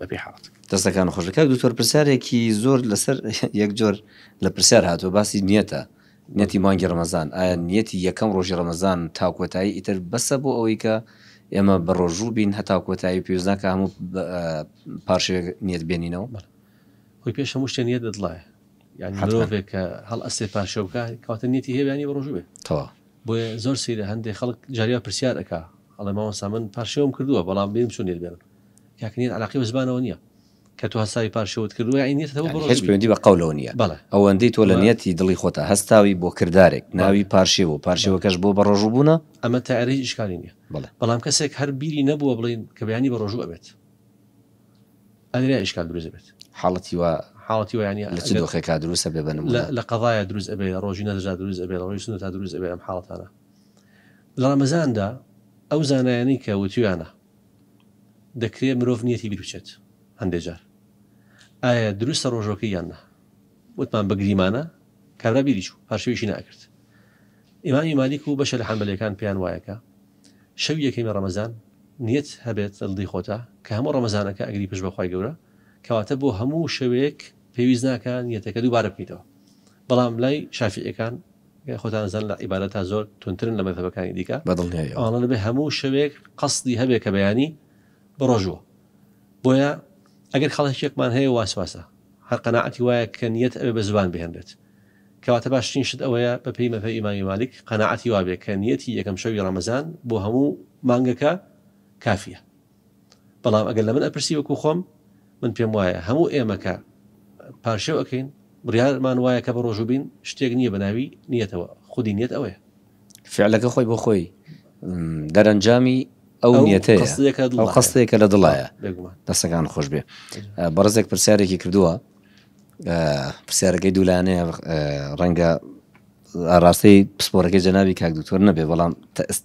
بەپێی حاڵەت. دەستەکانت خۆش کاک دکتۆر پرسیارێکی زۆر لەسەر یەک جۆر لە پرسیار هاتووە باسی نیەتە نەتی مانگی ڕەمەزان ئایا نیەتی یەکەم ڕۆژی ڕەمەزان تاکۆتایی ئیتر بەسە بۆ ئەوەی کە ئێمە بە ڕۆژوو بین هەتا کۆتایی پێوزناکە هەموو پارشێک نیەت بێنینەوە بەڵ خۆی پێش هەموو شتێن یە دەدڵایە یعنی مرۆڤێک کە هەڵ ئەسێ پارشەوکە کاتە نیەتی هێویانی بە ڕۆژوێ تەوا بۆیە زۆر سیرە هەندێک خەڵک جاریا پرسیار ئەک ئەڵێ ماوەسا من پارشێوم کردووە بەڵام بیم چون نێت بێنم یاک نیت عەلاقەی بە زبانەوە نیە کە تۆ هەساوی پار شەوت کردوە یانی نیت هەتەوە بڕۆ هیچ پەیوەندی بە قەولەوە نیە بەڵێ ئەوەندەی تۆ لە بە نیەتی دڵی خۆتا هەستاوی بۆ کردارێک ناوی بەڵێ پارشێوە بەڵێ پارشێوەکەش بۆ بەڕۆژوو بوونە ئەمە تایەرە هیچ ئیشکالی نیە بەڵێ. بەڵام کەسێک هەر بیری نەبووە بڵێین کە بەیانی بەڕۆژوو ئەبێت ئەرێ ئیشکال دروست دەبێت حاڵەتی وا حاڵەتی وە یانی لە چ ئەگەر دۆخێکا دروست ئەبێ بە لە نموونە؟ لە قەزایا دروست ئەبێ لە ڕۆژی نەزرا دروست ئەبێ لە ڕۆژی سوننەتا دروست ئەبێ ئەم حاڵەتانە لە ڕەمەزاندا ئەو زانایانی کە وتویانە دەکرێت مرۆڤ نیەتی بیربچێت هەندێک جار ئایا دروستە ڕۆژەکەی یان نا وتمان بەگریمانە کابرا بیری چوو هەر شویشی ناکرد ئیمامی مالیک و بەشە لە حەمبەلەکان پێیان وایەکە شەوی یەکەمی ڕەمەزان نیەت هەبێت لەڵدی خۆتا کە هەموو ڕەمەزانەکە ئەگری پش بەخوای گەورە کەواتە بۆ هەموو شەوەیەک پێویست ناکە نیەتەکە دووبارە بکەیتەوە بەڵام لای شافعیەکان خۆتان ئەزانن لە عیبادەتا زۆر توندترن لە مەزهەبەکانی دیکە بە دڵنیایەوە. ئەوانە دەبێ هەموو شەوێک قەسدی هەبێ کە بەیانی بە ڕۆژ بووە بۆیە ئەگەر خەڵهکێکمان هەیە واسواسە هەر قەناعەتی وایە کە نیەت ئەبێ بە زوبان بهێنرێت کەواتە باشترین شت ئەوەیە بە پێی مەزهەبی ئیمامی مالیک قەناعەتی وابێ کە نیەتی یەکەم شەوی ڕەمەزان بۆ هەموو مانگەکە کافیە. بەڵام ئەگەر لە من ئەپرسی وەکو خۆم من پێم وایە هەموو ئێمە کە پارشێو ئەکەین بڕیارمان وایە کە بەڕۆژوو بین شتێک نییە بەناوی نیەتەوە خودی نیەت ئەوەیە فعلەکە خۆی بۆ خۆی دەرەنجامی ئەو قستێکە لە دڵایە دەستەکان خۆش بێ بەڕزێک پرسیارێکی کردووە پرسیارەکەی دوولانەیە ڕەنگە ئاڕاستەی پسپۆڕەکەی جەنابی کاک دکتۆر نەبێ بەڵام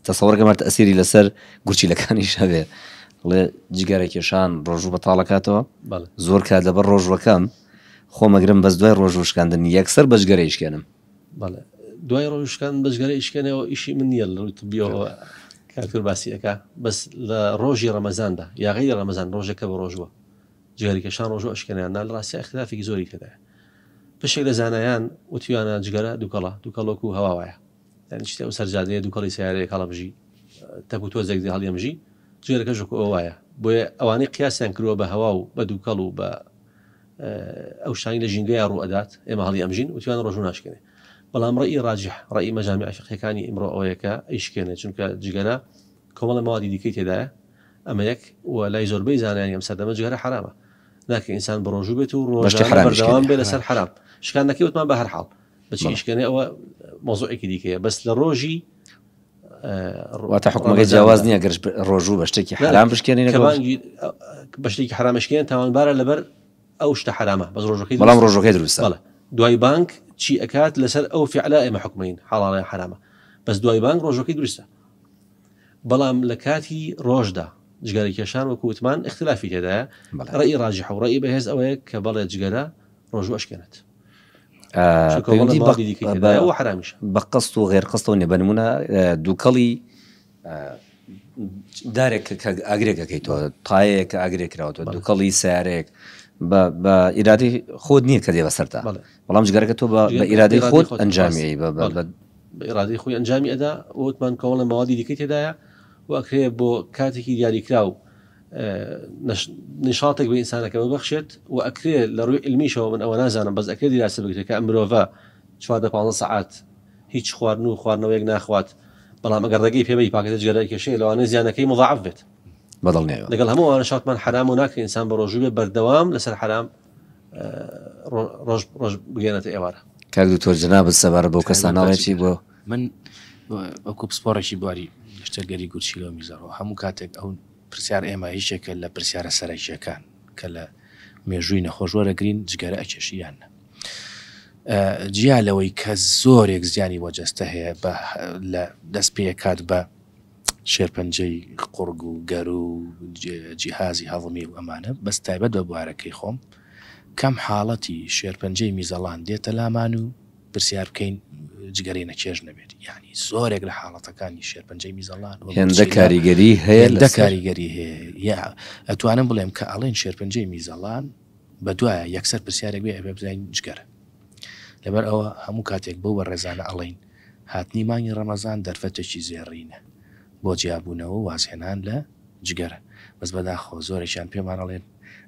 تەسەوەڕگەمە تەسیری لەسەر گورچیلەکانیش هەبێ بڵێ جگەرە کێشان ڕۆژوو بە تاڵەکاتەوە زۆر کات لەبەر ڕۆژوەکەم خۆمەگرم بەس دوای ڕۆژوشکاندن یەکسەر بەجگەرە یشکێنم بەڵێ دوای ڕۆژکان بەجگەرە یشکێنەوە ئیشی من نییە لە ڕووی بیەوە کاکتور باسی ئەەکە بەس لە ڕۆژی ڕەمەزاندا یاغی ڕەمەزان ڕۆژەکە بە ڕۆژوە جگەرەکێشان ڕۆژوو ئەشکێنەیان نا لە ڕاستیا ئیختیلافێکی زۆری تێدایە بەشێک لە زانایان وتویانە جگەرە دووکەڵە دووکەڵ وەکو هەوا وایە یعنی شتێ ئەو سەرجادەیە دووکەڵی سیارەیەک هەڵەمژی تەک و تۆزێک دێ هەڵیەمژی جگەرەکەش وەکو ئەو وایە بۆیە ئەوانەی قیاسیان کردووە بە هەوا و بە دووکەڵ و بە ئەو شتانی لە ژینگەیە ڕوو ئەدات ئێمە هەڵی ئەمژین وتویان ڕۆژوو ناشکێنێ بەڵام ڕێی ڕاجح ڕێی مەجامی عفقەکانی ئیمڕۆ ئەوەیەکە ئەیشکێنێ چونکە جگەرە کۆمەڵێ مەوادی دیکەی تێدایە ئەمە یەک وە لای زۆربەی زانایانی ئەم سەردەمە جگەرە حەرامە ناکرێت ئینسان بەڕۆژوو بێت و ڕۆژانە بەردەوام بێت لەسەر حەرام شکانەکەی وتمان بە هەر حاڵ بەچی ئیشکەێ ئەوە مۆزۆێکی دیکەیە بەس لە ڕۆژی واتە حکومەکە جیاواز نییە گەرش ڕۆژوو بە شتێکی حرام بشکێنی بە شتێکی حرامشکێن تاوانبارە لەبەر ئەو شتە حرامە بەس ڕۆژەکەی بەڵام ڕۆژەکەی دروستە دوای بانک چی ئەکات لەسەر ئەو فعلا ئێمە حکومین حاڵڵە حرامە بەس دوای بانک ڕۆژەکەی دروستە بەڵام لە کاتی ڕۆژدا جگەرە کێشان وەکو وتمان اختلافی تێدایە ڕێی ڕاجح و ڕێی بەهێز ئەوەیە کە بەڵێ جگەرە ڕۆژو ئەشکێنێت حرامیش بە قست و غێر قستەوە نێ بەنمونە دووکەڵی دارێک ئاگرێکەکەی تۆ تایەیە کە ئاگرێکراوە تۆ دووکەڵی سارێک بە ئیرادی خۆت نییە کە دێ بەسەرتا بەڵام جگەرەکە تۆ بە ئیرادەی خۆت ئەنجامی بە بە ئیرادەی خۆی ئەنجامی ئەدا، ووتمان کۆمەڵێ مەوادی دیکەی تێدایە و ئەکرێ بۆ کاتێکی دیاریکراو نیشاطێک بە ئینسانەکە ببەخشێت و ئەکرێ لە ڕووی علمیشەوە من ئەوە نازانم بەس ئەکرێ دیراسە بکرێت کە مرۆڤە چواردە پازە سەعات هیچ خواردن و خواردنەوەیەک ناخوات بەڵام ئەگەر ڕێگەی پێبی پاکەتە جگەرای کێشەیە لەوانە زیانەکەی مضاعف بێت بەدڵنیایەوە لەگەڵ هەموو ئەوانە شاتمان حەرام و ناکرێ ئینسان بە ڕۆژوو بێ بەردەوام لەسەر حەرام ڕۆژ ڕۆژ بگەێنێتە ئێوارە کاک دکتۆر جنابت سەبار بۆ کەسانەڵێکی بۆ من ئەوکو پسپۆڕێکی بواری شتەرگەری گوچیلۆ میزەڕەوە هەموو کاتێک ئەو پرسیار ئێمە هیچێکە لە پرسیارە سەرەکیەکان کە لە مێژووی نەخۆش وەرەگرین جگەرە ئەکێشیان نە جیا لەوەی کە زۆرێک زیانی بۆ جەستە هەیە بە لە دەست پێکات بە شێرپەنجەی قوڕگ و گەروو و جیهازی هەضمی و ئەمانە بەس تایبەت بە بوارەکەی خۆم کەم حاڵەتی شێرپەنجەی میزەڵان دێتە لامان و پرسیار بکەین جگەرەی نەچێژ نەبێت یانی زۆرێک لە حاڵەتەکانی شێرپەنجەی میزەڵان هێندە کاریگەری هەیە لە کاریگەری هەیە ئەتوانم بڵێم کە ئەڵێن شێرپەنجەی میزەڵان بە دوایە یەکسەر پرسیارێک بێ ئەبێ بزانین جگەرە لەبەر ئەوە هەموو کاتێک بۆ بە ڕێزانە ئەڵین هاتنی مانگی ڕەمەزان دەرفەتێکی زێڕینە بۆ جیابوونەوەو وازهێنان لە جگەرە، بەس بەداخەوە زۆرێکیان پێمان ئەڵێن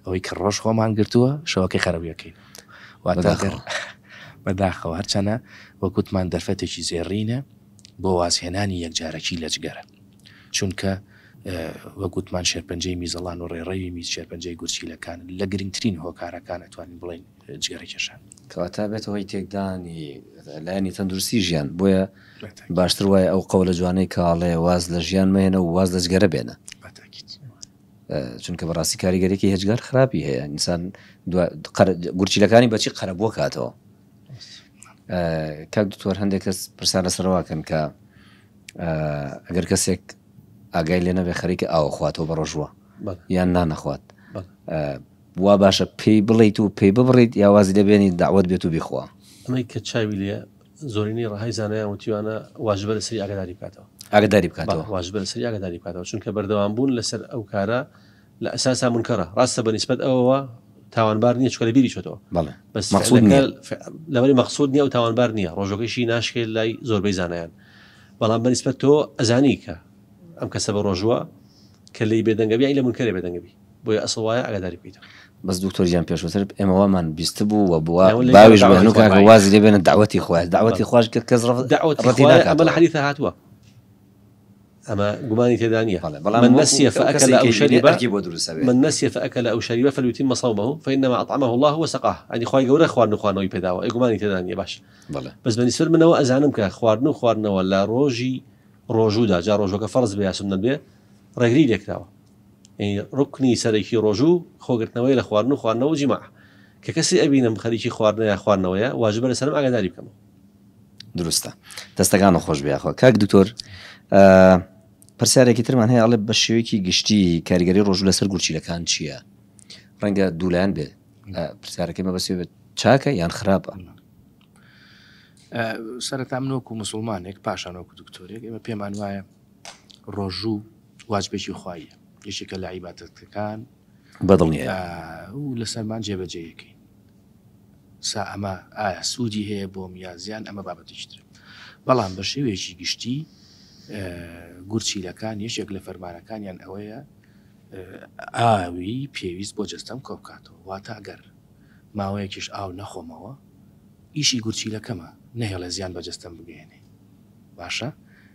ئەوەی کە ڕۆژ خۆمان گرتووە شەوەکەی خەرەبی ئەکەین واتە گەر بەداخەوە هەرچەنە وەک وتمان دەرفەتێکی زێڕینە بۆ وازهێنانی یەکجارەکی لە جگەرە چونکە وەک وتمان شێرپەنجەی میزەڵان و ڕێڕەوی میز شێرپەنجەی گورچیلەکان لە گرنگترین هۆکارەکان ئەتوانین بڵێین جگەرەکێشان. کەواتە بێتە هۆی تێکدانی لایەنی تەندروستی ژیان، بۆیە باشتر وایە ئەو قەولە جوانەی کە ئەڵێ واز لە ژیان مەهێنە و واز لە جگەرە بێنە. چونکە بەڕاستی کاریگەرێکی هێجگار خراپی هەیە ئینسان گورچیلەکانی بەچی قەرەبووە کاتەوە کاک دکتۆر هەندێک کەس پرسیار لەسەرواکەن کە ئەگەر کەسێک ئاگای لێ نەبێ خەریکە ئاوە خواتەوە بە ڕۆژووە یان نانەخوات وا باشە پێی بڵێیت و پێی ببڕیت یا وازی لێ بێنیت دەعوەت بێت و بیخوا. ئەمەی کە چاوی لێیە زۆرینەی ڕەهای زانایان وتویانە واجبە لەسەری ئاگاداری بکاتەوە. ئاگاداری بکاتەوە. بەڵێ واجبە لەسەری ئاگاداری بکاتەوە چونکە بەردەوام بوون لەسەر ئەو کارە لە ئەساسا مونکەرە ڕاستە بە نیسبەت ئەوەوە تاوانبار نییە چونکە لە بیری چۆتەوە بەڵێ بەس مەقصود نییە. فعلەکە ف... لەبەری مەقصود نییە و تاوانبار نییە ڕۆژەکەشی ناشکێت لای زۆربەی زانایان بەڵام بە نیسبەت تۆ ئەزانی کە ئەم کەسە بە ڕۆژووە کە لێی بێدەنگە بیانی لە مونکەرێ بێدەنگە بی بۆیە ئەسڵ وایە ئاگاداری پیتە. بەس دکتۆر گیان پێشوتر ئێمە وامان بیستبوو و بووە باویش بە هەنوو کاکە وازی لێ بێنە داوەتی خۆیان داوەتی خۆش کرد کەس ڕەتی ناکات ئەمە لە حەدیثە هاتووە ئەمە گومانی تێدا نیە بەڵام من نسیە فأكل أو شرب من نسیە فأكل أو شرب فليتم صومه فإنما أطعمه الله وسقاه يعني خوای گەورە خواردن و خوانەوەی پێداوە ئەی گومانی تێدا نیە باش بەڵێ بەس بە نسبەت منەوە ئەزانم کە خواردن و خواردنەوە لە ڕۆژی ڕۆژوودا جا ڕۆژەکە فەرز بێ یا سنە بێ ڕێگری لێکراوە ڕوکنی سەرەکی ڕۆژوو خۆگرتنەوەیە لە خواردن و خواردنەوە و جیماع کە کەسی ئەبینم خەریکی خواردنە یا خواردنەوەیە واجبە لەسەرم ئاگاداری بکەمەوە. دروستە دەستەکانت خۆش بێ یاخوا کاک دکتۆر پرسیارێکی ترمان هەیە ئەڵێ بە شێوەیەکی گشتی کاریگەری ڕۆژوو لەسەر گورچیلەکان چییە ڕەنگە دوولایەن بێ پرسیارەکەی مەبەسێ بێت چاکە یان خراپە سەرەتا منۆک و مسلمانێک پاشانۆک و دکتۆرێک ئێمە پێمان وایە ڕۆژوو واجبێکی خواییە یەکێکە لە عیبادەتەکان بەدڵنیایە و لەسەرمان جێبەجێیەکەین سا ئەمە ئایا سوودی هەیە بۆم یا زیان ئەمە بابەتیش ترە بەڵام بە شێوەیەکی گشتی گورچیلەکان یەکێک لە فەرمانەکانیان ئەوەیە ئاوی پێویست بۆ جەستەم کۆبکاتەوە واتە گەر ماوەیەکیش ئاو نەخۆمەوە ئیشی گورچیلەکەمە نەهێڵە زیان بە جەستەم بگەێنێ باشە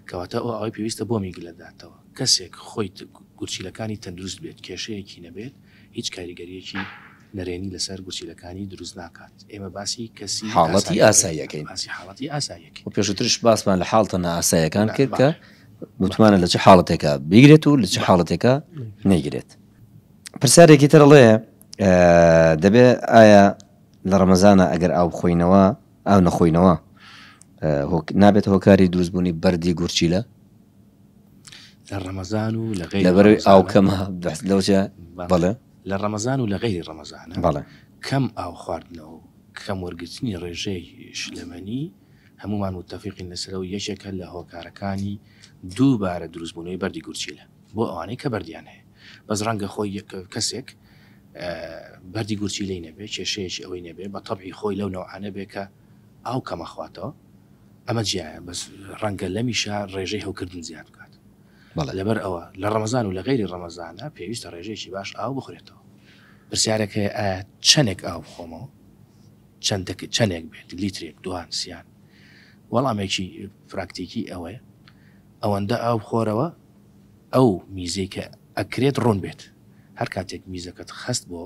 کەواتە ئەو ئاوەی پێویستە بۆ میگ لەداتەوە کەسێک خۆی گورچیلەکانی تەندروست بێت کێشەیەکی نەبێت هیچ کاریگەریەکی نەرێنی لەسەر گورچیلەکانی دروست ناکات ئێمە باسی کەسی حاڵەتی ئاساییەکەین باسی حاڵەتی ئاساییەکە پێشترش باسمان لە حاڵتە نائاسایەکان کرد کە متمانە لە چ حاڵەتێکە بگرێت و لە چ حاڵەتێکە نەیگرێت پرسیارێکی ترڵێ دەبێ ئایا لە ڕەمەزانە ئەگەر ئاو بخۆینەوە ئاو نەخۆینەوە نابێتە هۆکاری دروست بوونی بەردی گورچیلە لە ڕەمەزان و لە غیر لەبەر ڕەمەزانە. ئاو کەمە بەس لەوجە بەڵێ. بەڵێ لە ڕەمەزان و لە غیری ڕەمەزانە بەڵێ کەم ئاو خواردنەوە و کەم وەرگرتنی ڕێژەی شلەمەنی هەموومان متەفیقین لەسەرەوە یەکێکە لە هۆکارەکانی دووبارە دروستبوونەوەی بەردی گورچیلە بۆ ئەوانەی کە بەردیان هەیە. بەس ڕەنگە خۆی یەک کەسێک بەردی گورچیلەی نەبێ کێشەیەکی ئەوەی نەبێ بە تەبعی خۆی لەو نەوعانە بێ کە ئاو کەم ئەخواتەوە ئەمە جیایە بەس ڕەنگە لەمیشە ڕێژەی هەوکردن زیاد بکات بەڵێ لەبەر ئەوە لە ڕەمەزان و لە غەیری ڕەمەزانە پێویستە ڕێژەیەکی باش ئاو بخورێتەوە پرسیارێک هەیە ئایا چەندێک ئاو بخۆمەوە چەند دەکە چەندێک بێت لیترێک دوان سیان وەڵامێکی پراکتیکی ئەوەیە ئەوەندە ئاو بخۆرەوە ئەو میزەی کە ئەکرێت ڕوون بێت هەر کاتێک میزەکەت خەست بۆ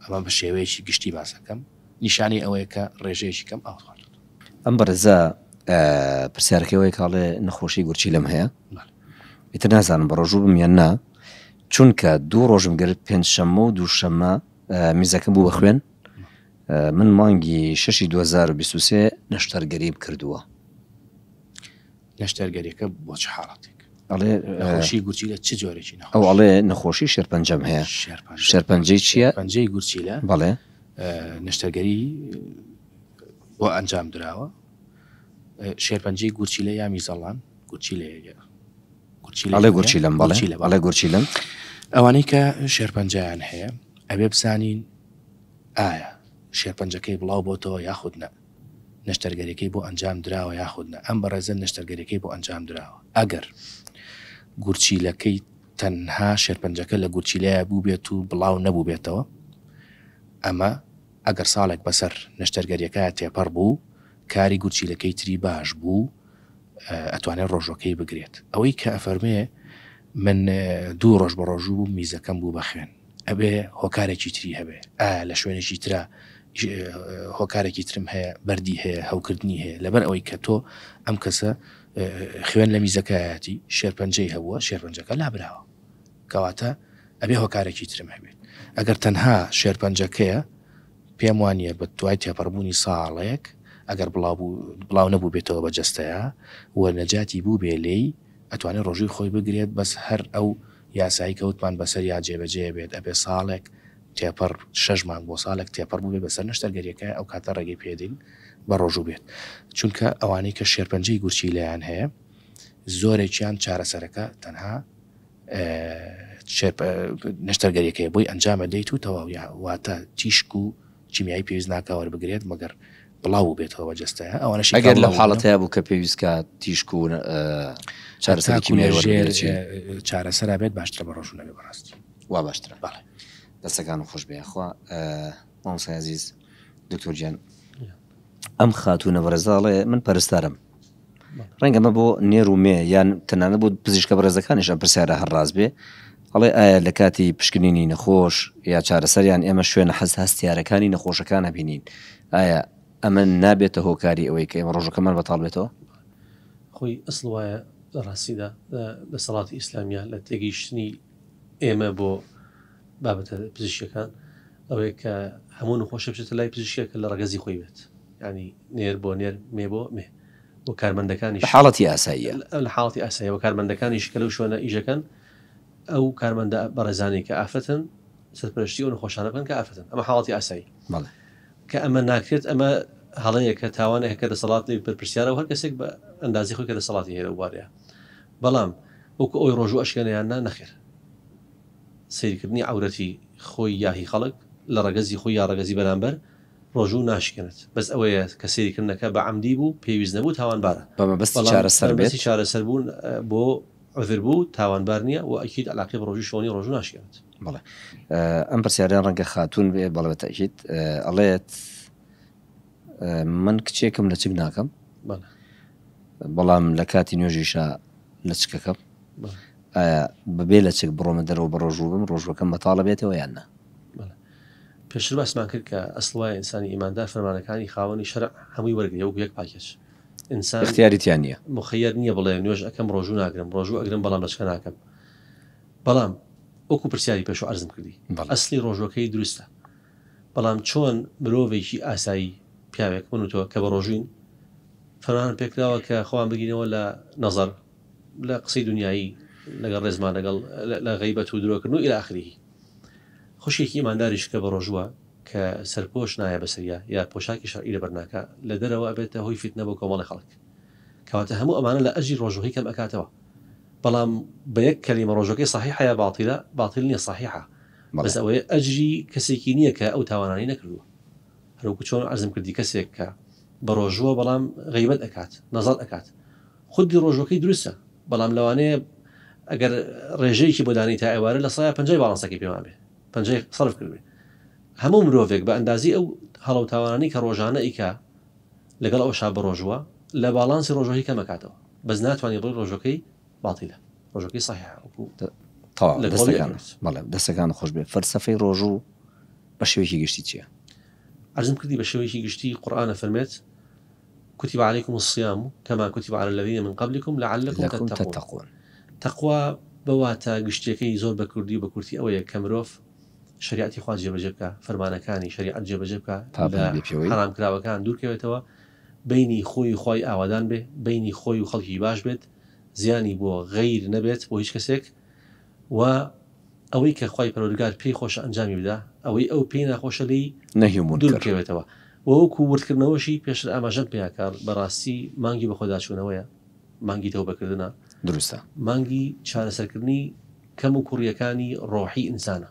ئەمە بە شێوەیەکی گشتی باس ئەکەم نیشانەی ئەوەیە کە ڕێژەیەکی کەم ئاوت خواردووت. ئەم بەڕێزە پرسیارەکەی وای کە ئەڵێ نەخۆشی گورچیلەم هەیە ئیتر نازانم بەڕۆژوو بم یان نا چونکە دوو ڕۆژم گرت پێنج شەممە و دوو شەممە میزەکەم بوو بە خوێن من مانگی شەشی 2023 نەشتەرگەریم کردووە. نەشتەرگەریەکە بۆ چ حاڵەتێک ئەڵێ نەخۆشی گورچیلە چ جۆرێکی نەخۆش ئەو ئەڵێ نەخۆشی شێرپەنجەم هەیە شێرپەنجە شێرپەنجەی چییە؟ پەنجەی گورچیلە بەڵێ ئە، نەشتەرگەری بۆ ئەنجام دراوە ئە، شێرپەنجەی گورچیلە یا میزەڵان گورچیلەیەگە گورچیلە ئەڵێ گورچیلەم بەڵێ گورچیلە بەڵێ. ئەڵێ گورچیلەم ئەوانەی کە شێرپەنجەیان هەیە ئەبێ بزانین ئایا شێرپەنجەکەی بڵاو بۆتەوە یاخود نە نەشتەرگەریەکەی بۆ ئەنجام دراوە یاخود نا، ئەم بەڕێزە نەشتەرگەریەکەی بۆ ئەنجام دراوە ئەگەر گورچیلەکەی تەنها شێرپەنجەکە لە گورچیلەیە بووبێت و بڵاو نەبووبێتەوە ئەمە ئەگەر ساڵێک بەسەر نەشتەرگەریەکە تێپەڕ بوو کاری گورچیلەکەی تری باش بوو ئەتوانێت ڕۆژەکەی بگرێت ئەوەی کە ئەفەرمێ من دوو ڕۆژ بە ڕۆژوو بوو میزەکەم بوو بە خوێن ئەبێ هۆکارێکی تری هەبێ ئایا لە شوێنێکی ترا هۆکارێکی ترم هەیە بەردی هەیە هەوکردنی هەیە لەبەر ئەوەی کە تۆ ئەم کەسە خوێن لە میزەکەیەتی شێرپەنجەی هەبووە شێرپەنجەکە لابراوە کەواتە ئەبێ هۆکارێکی ترم هەبێت ئەگەر تەنها شێرپەنجەکەیە پێم وانە بە دوای تێپەڕبوونی ساڵێک ئەگەر بڵاو نەبوو بێتەوە بە جستەیە و نەجاتی بوو بێ لێی ئەتوانێت ڕۆژی خۆی بگرێت بەس هەر ئەو یاسایی کە وتمان بەسەریا جێبەجێ بێت ئەبێ ساڵێک تێپەڕ شەش مانگ بۆ ساڵێک تێپەڕ بووبێت بەسەر نەشتەرگەریەکە ئەو کاتە ڕێگەی پێدەین بە ڕۆژوو بێت چونکە ئەوانەی کە شێرپەنجەی گورچیلەیان هەیە زۆرێکیان چارەسەرەکە تەنها نەشتەرگەریەکەی بۆی ئەنجامە دەیت و تەواویا واتە تیشک و کیمیایی پێویست ناکا وەربگرێت مەگەر بڵاو بێتەوە بە جستەیە ئەوانش ئەگەر لە حاڵەت هەیە بوو کە پێویست کە تیشک و چارەسەرکی چارەسەرا بێت باشترە بە ڕۆژون نەبێ بەڕاستی وا باشترە باڵێ دەسەکان و خۆش بێخوا مامسازیز دکتۆر جان ئەم خاتوونە بەڕێزە ئەڵێ من پەرستارم ڕەنگە مە بۆ نێر و مێ یان تەنانە بۆ پزیشکە بەڕێزەکانیش ئەم پرسیارە هەر ڕاست بێ ئەڵێ ئایا لە کاتی پشکنینی نەخۆش یا چارەسەریان ئێمە شوێنە حەز هەستیارەکانی نەخۆشەکان هەبینین ئایا ئەمە نابێتە هۆکاری ئەوەی کە ئێمە ڕۆژەکەمان بەتاڵ بێتەوە خۆی ئەسڵ وایە ڕاستیدا دەسەڵاتی ئیسلامیا لە تێگەیشتنی ئێمە بۆ بابەتە پزیشکیەکان ئەوەیە کە هەموو نەخۆشێ بچێتە لای پزیشکێک کە لە ڕەگەزی خۆی بێت یانی نێر بۆ نێر مێ بۆ مێ و کارمەندەکانیش لە حاڵەتی ئاساییە لە حاڵەتی ئاساییە و کارمەندەکانیش کە لەو شوێنە ئیشەکەن ئەو کارمەندە بەڕێزانەی کە ئافرەتن سەرپەرشتی ئەو نەخۆشانە بکەن کە ئافرەتن ئەمە حاڵەتی ئاسایی بەڵێ کە ئەمە ناکرێت ئەمە هەڵەیەکە تاوانێک کە دەسەڵات لێ بەرپرسیارە و هەر کەسێک بە ئەندازی خۆی کە دەسەڵاتی هەیە لەو بارەیە بەڵام وەکو ئەوی ڕۆژوو ئەشکێنەیان نا نەخێر سەیرکردنی عەورەتی خۆی یا هی خەڵک لە ڕەگەزی خۆی یا ڕەگەزی بەرامبەر ڕۆژوو ناشکێنێت بەس ئەوەیە کە سەیرکردنەکە بە عەمدی بوو پێویست نەبوو تاوانبارە بە مەبەستی بەڵام چارەسەر بە مەبەستی بێت. چارەسەر بوون بۆ عوذر بوو تاوانبار نیە وە ئەکید عەلاقەی بە ڕۆژووی شەوەنی ڕۆژوو ناشکێنێت. بەڵێ ئەم پرسیارە ڕەنگە خاتوون بێ بەڵێ بە تەئکید ئەڵێت. من کچێکم لەچک ناکەم بەڵام لەکاتی نوێژیشا لەچکەکەم ئایا بەبێ لەچک بڕۆمە دەرەوە بەڕۆژوو بم ڕۆژوەکەم بەتاڵە بێتەوە یان نا پێشتر باسمان کرد کە ئەسڵای ئینسانی ئیماندار فەرمانەکانی خاوەنی شەرع هەمووی وەرگری وەک یەک پاکێج ئینسان اختیاریتیان نییە مخەیەر نییە بڵێ نوێژ ئەەکەم ڕۆژوو ناگرم ڕۆژوو ئەگرم بەڵام لەچکە ناکەم بەڵام وەکو پرسیاری پێش عرزم کردی ئەسلی ڕۆژوەکەی دروستە بەڵام چۆن مرۆڤێکی ئاسایی، پیاوێک، من و تۆ کە بەڕۆژووین، فەرمانمان پێکراوە کە خۆمان بگرینەوە لە، نەزەر، لە قسەی دونیایی، لەگەڵ ڕێزمان لەگەڵ، لە غەیبەت و درۆکردن و الی اخره. خوشکێکی ئیمانداریش کە بەڕۆژووە، کە سەرپۆش نایە بەسەریا یا پۆشاکی شەرعی لەبەرناکا، لە دەرەوە ئەبێتە هۆی فیتنە بۆ کۆمەڵی خەڵک. کەواتە هەموو ئەمانە لە ئەجری ڕۆژووەکەی کەم ئەکاتەوە. بەڵام بە یەک کەلیمە ڕۆژووەکەی صحیحە یا باطیلە؟ باطیل نیە صحیحە. بەس ئەوەیە ئەجری کەسێکی نیە کە ئەو تاوانانەی نەکردوە هەروەکو چۆن عەرزم کردی کەسێک کە بەڕۆژووە بەڵام غیبەت ئەکات نەزەڕ ئەکات خودی ڕۆژوەکەی دروستە بەڵام لەوانەیە ئەگەر ڕێژەیەکی بۆ دانی تا ئێوارە لە سایە پنجای باڵانسەکەی پێمان بێ پنجای سەرف کردێ هەموو مرۆڤێک بە ئەندازی ئەو هەڵەوتاوانانی کە ڕۆژانە ئیکا لەگەڵ ئەو شا بە ڕۆژووە لە باڵانسی ڕۆژۆهی کەمەکاتەوە بەس ناتوانانی بڵی ڕۆژەکەی باطلە ڕۆژەکەی صحیحە وەکو تەواو دەستەکان بەڵێ دەستەکان خۆش بێ فەلسەفەی ڕۆژوو بە شێوەیەکی گشتی چییە؟ عرضم کردی بە شێوەیەکی گشتی قورئانە فەرمێت كتب عليكم الصيام كما كتب على الذين من قبلكم لعلكم تتقون تقوا بەواتە گشتیەکەی زۆر بە کوردی و بە کورتی ئەوەیە کە مرۆڤ شریعتی خوا جێبەجێ بکە فەرمانەکانی شریعت جێبەجێ بکە حرامکراوەکان دوورکەوێتەوە بینی خۆی خی ئاوادان بێ بینی خۆی و خەڵکی باش بێت زیانی بۆ غەیر نەبێت بۆ هیچ کەسێک وە ئەوەی کە خوای پەروەردگار پێی خۆشە ئەنجامی بدا ئەوەی ئەو پێی ناخۆشە لێی نەهی و مونکەر دووربکەوێتەوە وە وەکو وردکردنەوەشی پێشتر ئاماژەم پێیا کە بەڕاستی مانگی بەخۆداچوونەوەیە مانگی تەوبە کردنە دروستە مانگی چارەسەرکردنی کەم و کوڕیەکانی ڕۆحی ئینسانە.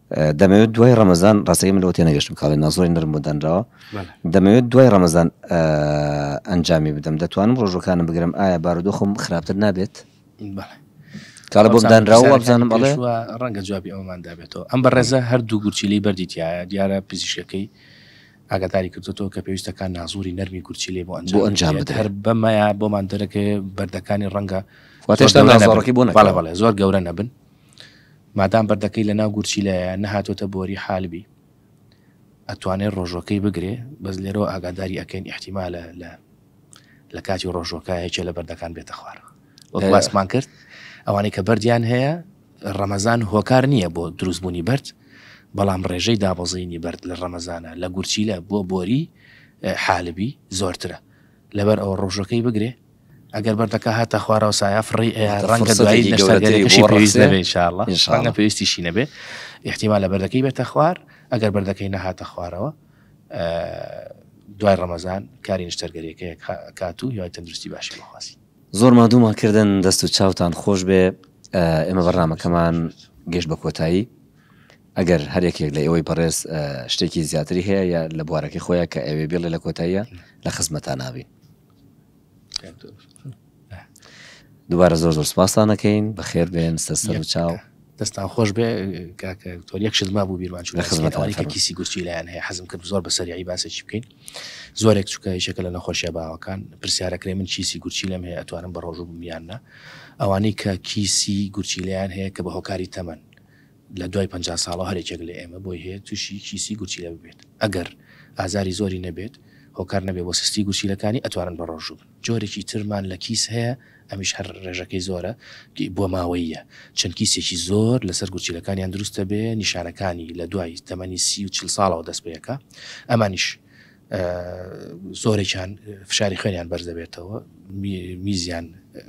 دەمەوێت دوای ڕەمەزان ڕاستەکەی من لەوە تێنەگەشتم کاڵێ نازۆری نرم بۆ دانراوە دەمەوێت دوای ڕەمەزان ئەنجامی بدەم دەتوانم ڕۆژەکانم بگرم ئایا بارودۆخم خراپتر نابێت کاڵە بۆم دانراوە وابزانم ئەڵێ ڕەنگە جوابی ئەومان دابێتەوە ئەم بەڕێزە هەردوو گورچیلی بەردیتیایە دیارە پزیشەکەی ئاگاداری کردوەوە کە پێویستەکان نازوری نەرمی گورچی لێ بۆ ئەنج ئەنجام هەر بەمەیە بۆمان دەرەکە بەردەکانی ڕەنگە واتێشتا نازۆڕەکەی بۆ نەڵێ بەڵێ زۆر گەورە نەبن مادام بەردەکەی لەناو گورچیلەیە نەهاتۆتە بۆری حالبی ئەتوانێ ڕۆژوەکەی بگرێ بەس لێرەوە ئاگاداری ئەکەین ئیحتیمالە لە لە کاتی ڕۆژوەکە یەکێ لە بەردەکان بێتە خوار وەک باسمان کرد ئەوانەی کە بەردیان هەیە ڕەمەزان هۆکار نییە بۆ دروستبوونی بەرد بەڵام ڕێژەی دابەزینی بەرد لە ڕەمەزانە لە گورچیلە بۆ بۆری حالبی زۆرترە لەبەر ئەوە ڕۆژەکەی بگرێ ئەگەر بەردەکە هاتە خوارەوە سایە فڕی ڕەنگە دوایی نەشتەرگەرەکەشی پێویست نەبێ انشاءاللە ڕەنگە پێویستیشی نەبێ احتیمال لە بەردەکەی بێتە خوار ئەگەر بەردەکەی نەهاتە خوارەوە دوای ڕەمەزان کاری نیشتەرگەریەکە کات و یای تەندروستی باشی بخواسی زۆر مادوومان کردن دەست و چاوتان خۆش بێ ئێمە بەرنمەکەمان گەشت بە کۆتایی ئەگەر هەرێکێک لە ئێوەی بەڕێز شتێکی زیاتری هەیە یا لە بوارەکەی خۆیان کە ئەوێ بێڵێ لە کۆتاییە لە خزمەتان نابین دووبارە زۆر زۆر سپاستان نەکەین بە خێر بێن سەر سەر و چاو دەستان خۆش بێ کاکتۆر یەک شت ما بوو بیرمان چوو خزمەتەوەی کە کیسی گوچی لایەن هەیە حەزم کرد زۆر بەسەریعی باسێکی بکەین زۆرێک چووکە یشەکە لە نەخۆشیە باوەکان پرسیارەکرێ من کیسی گورچی لەم هەیە ئەتوانم بە ڕۆژوو بمیاننا ئەوانەی کە کیسی گورچی لایەن هەیە کە بە هۆکاری تەمەن لە دوای پەنجا ساڵەوە هەر یەکێک لە ئێمە بۆی هەیە تووشی کیسی گورچیلە ببێت، ئەگەر ئازاری زۆری نەبێت هۆکار نەبێت بۆ سستی گورچیلەکانی ئەتوانن بەڕۆژوو بن، جۆرێکی ترمان لە کیس هەیە ئەمیش هەر ڕێژەکەی زۆرە بۆ ماوەییە چەند کیسێکی زۆر لەسەر گورچیلەکانیان دروست دەبێ نیشانەکانی لە دوای تەمەنی سی و چل ساڵەوە دەست پێەکا ئەمانیش زۆرێکیان فشاری خوێنیان بەرز دەبێتەوە میزیان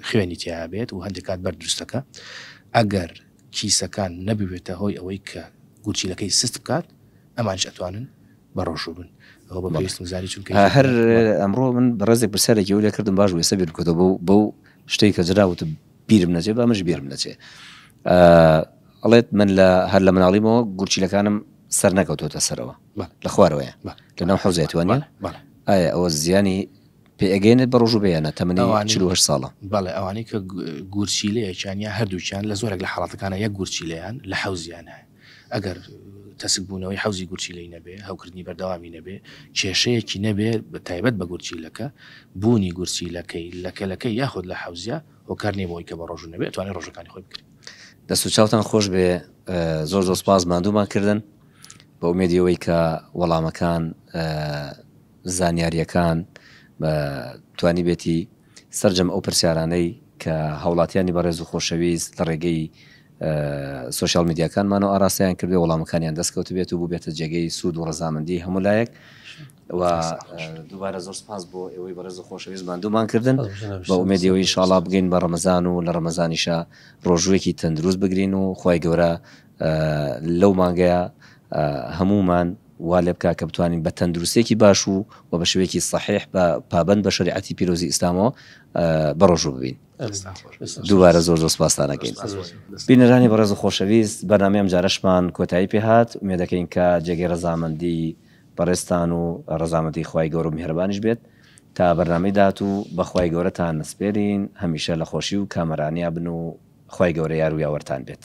خوێنی تیابێت و هەندێک کات بەر دروستەکە ئەگەر کیسەکان نەبوێتە هۆی ئەوەی کە گورچیلەکەی سست بکات ئەمانیش ئەتوانن بەڕۆژوو بن ئەوە بە پێویستم زانی چونکە یەکێک هەر لە بەڵێ. ئەمڕۆ من ڕێزێک پرسیارێکی ئەو لێ کردم باش بوو ئێستا بیرم کردەوە بەو بەو شتەی کە جەنابت وتت بیرم نەچێ با منیش بیرم نەچێ ئەڵێت من لە هەر لە مناڵیمەوە گورچیلەکانم سەر نەکەوتۆتە سەرەوە بەڵێ. لە خوارەوەیە بەڵێ. لەناو حەوزێ توانیە بەڵێ بەڵێ ئایا ئەوە زیانی پێئەگەیەنێت بە ڕۆژ و بەیانە تەمەنی ئەوانەی- چل و هەشت ساڵە. بەڵێ ئەوانەی کە گ- گورچیلەیەکیان یا هەردووکیان لە زۆرێک لە حاڵەتەکانا یەک گورچیلەیان لە حەوزیان هەیە ئەگەر تەسک بوونەوەی حەوزی گورچیلەی نەبێ هەوکردنی بەردەوامی نەبێ کێشەیەکی نەبێ بە تایبەت بە گورچیلەکە بوونی گورچیلەکەی لە کەلەکەی یاخود لە حەوزیا هۆکار نیە بۆوەی کە بە ڕۆژوو نەبێ ئەتوانێ ڕۆژەکانی خۆی بگرێ. دەست و چاوتان خۆش بێ زۆر زۆر سپاس ماندوومان کردن بە ئومێدی ئەوەی کە وەڵامەکان زانیارییەکان توانیبێتی سەرجەم ئەو پرسیارانەی کە هاوڵاتیانی بەڕێز و خۆشەویست لە ڕێگەی سۆشیال میدیاکانمانەوە ئاراستەیان کردێ وەڵامەکانیان دەستکەوتبێت و بووبێتە جێگەی سوود و ڕزامەندی هەموو لایەک و دووبارە زۆر سپاس بۆ ئێوەی بەڕێز و خۆشەویست مادوومان کردن بە ئومێدیەوەی شاڵا بگەین بە ڕەمەزان و لە ڕەمەزانیشە ڕۆژوێکی تەندروست بگرین و خی گەورە لەو مانگەیە هەمومان وا لێ بکە کە بتوانین بە تەندروستیەکی باش و و بە شێوەیەکی سەحیح بە پابەند بە شەریعەتی پیرۆزی ئیسلامەوە بەڕۆژوو ببین. دووبارە زۆر زۆر سپاستان ئەکەین. بینەرانی بەڕێز و خۆشەویست، بەرنامەی ئەمجارەشمان کۆتایی پێ هات، ئومێدەکەین کە جێگەی ڕەزامەندی بەڕێزتان و ڕەزامەندی خوای گەورە و میهرەبانیش بێت. تا بەرنامەی داهاتوو بە خوای گەورەتان نەسپێرین، هەمیشە لە خۆشی و کامەرانیا بن و خوای گەورە یار و یاوەرتان بێت.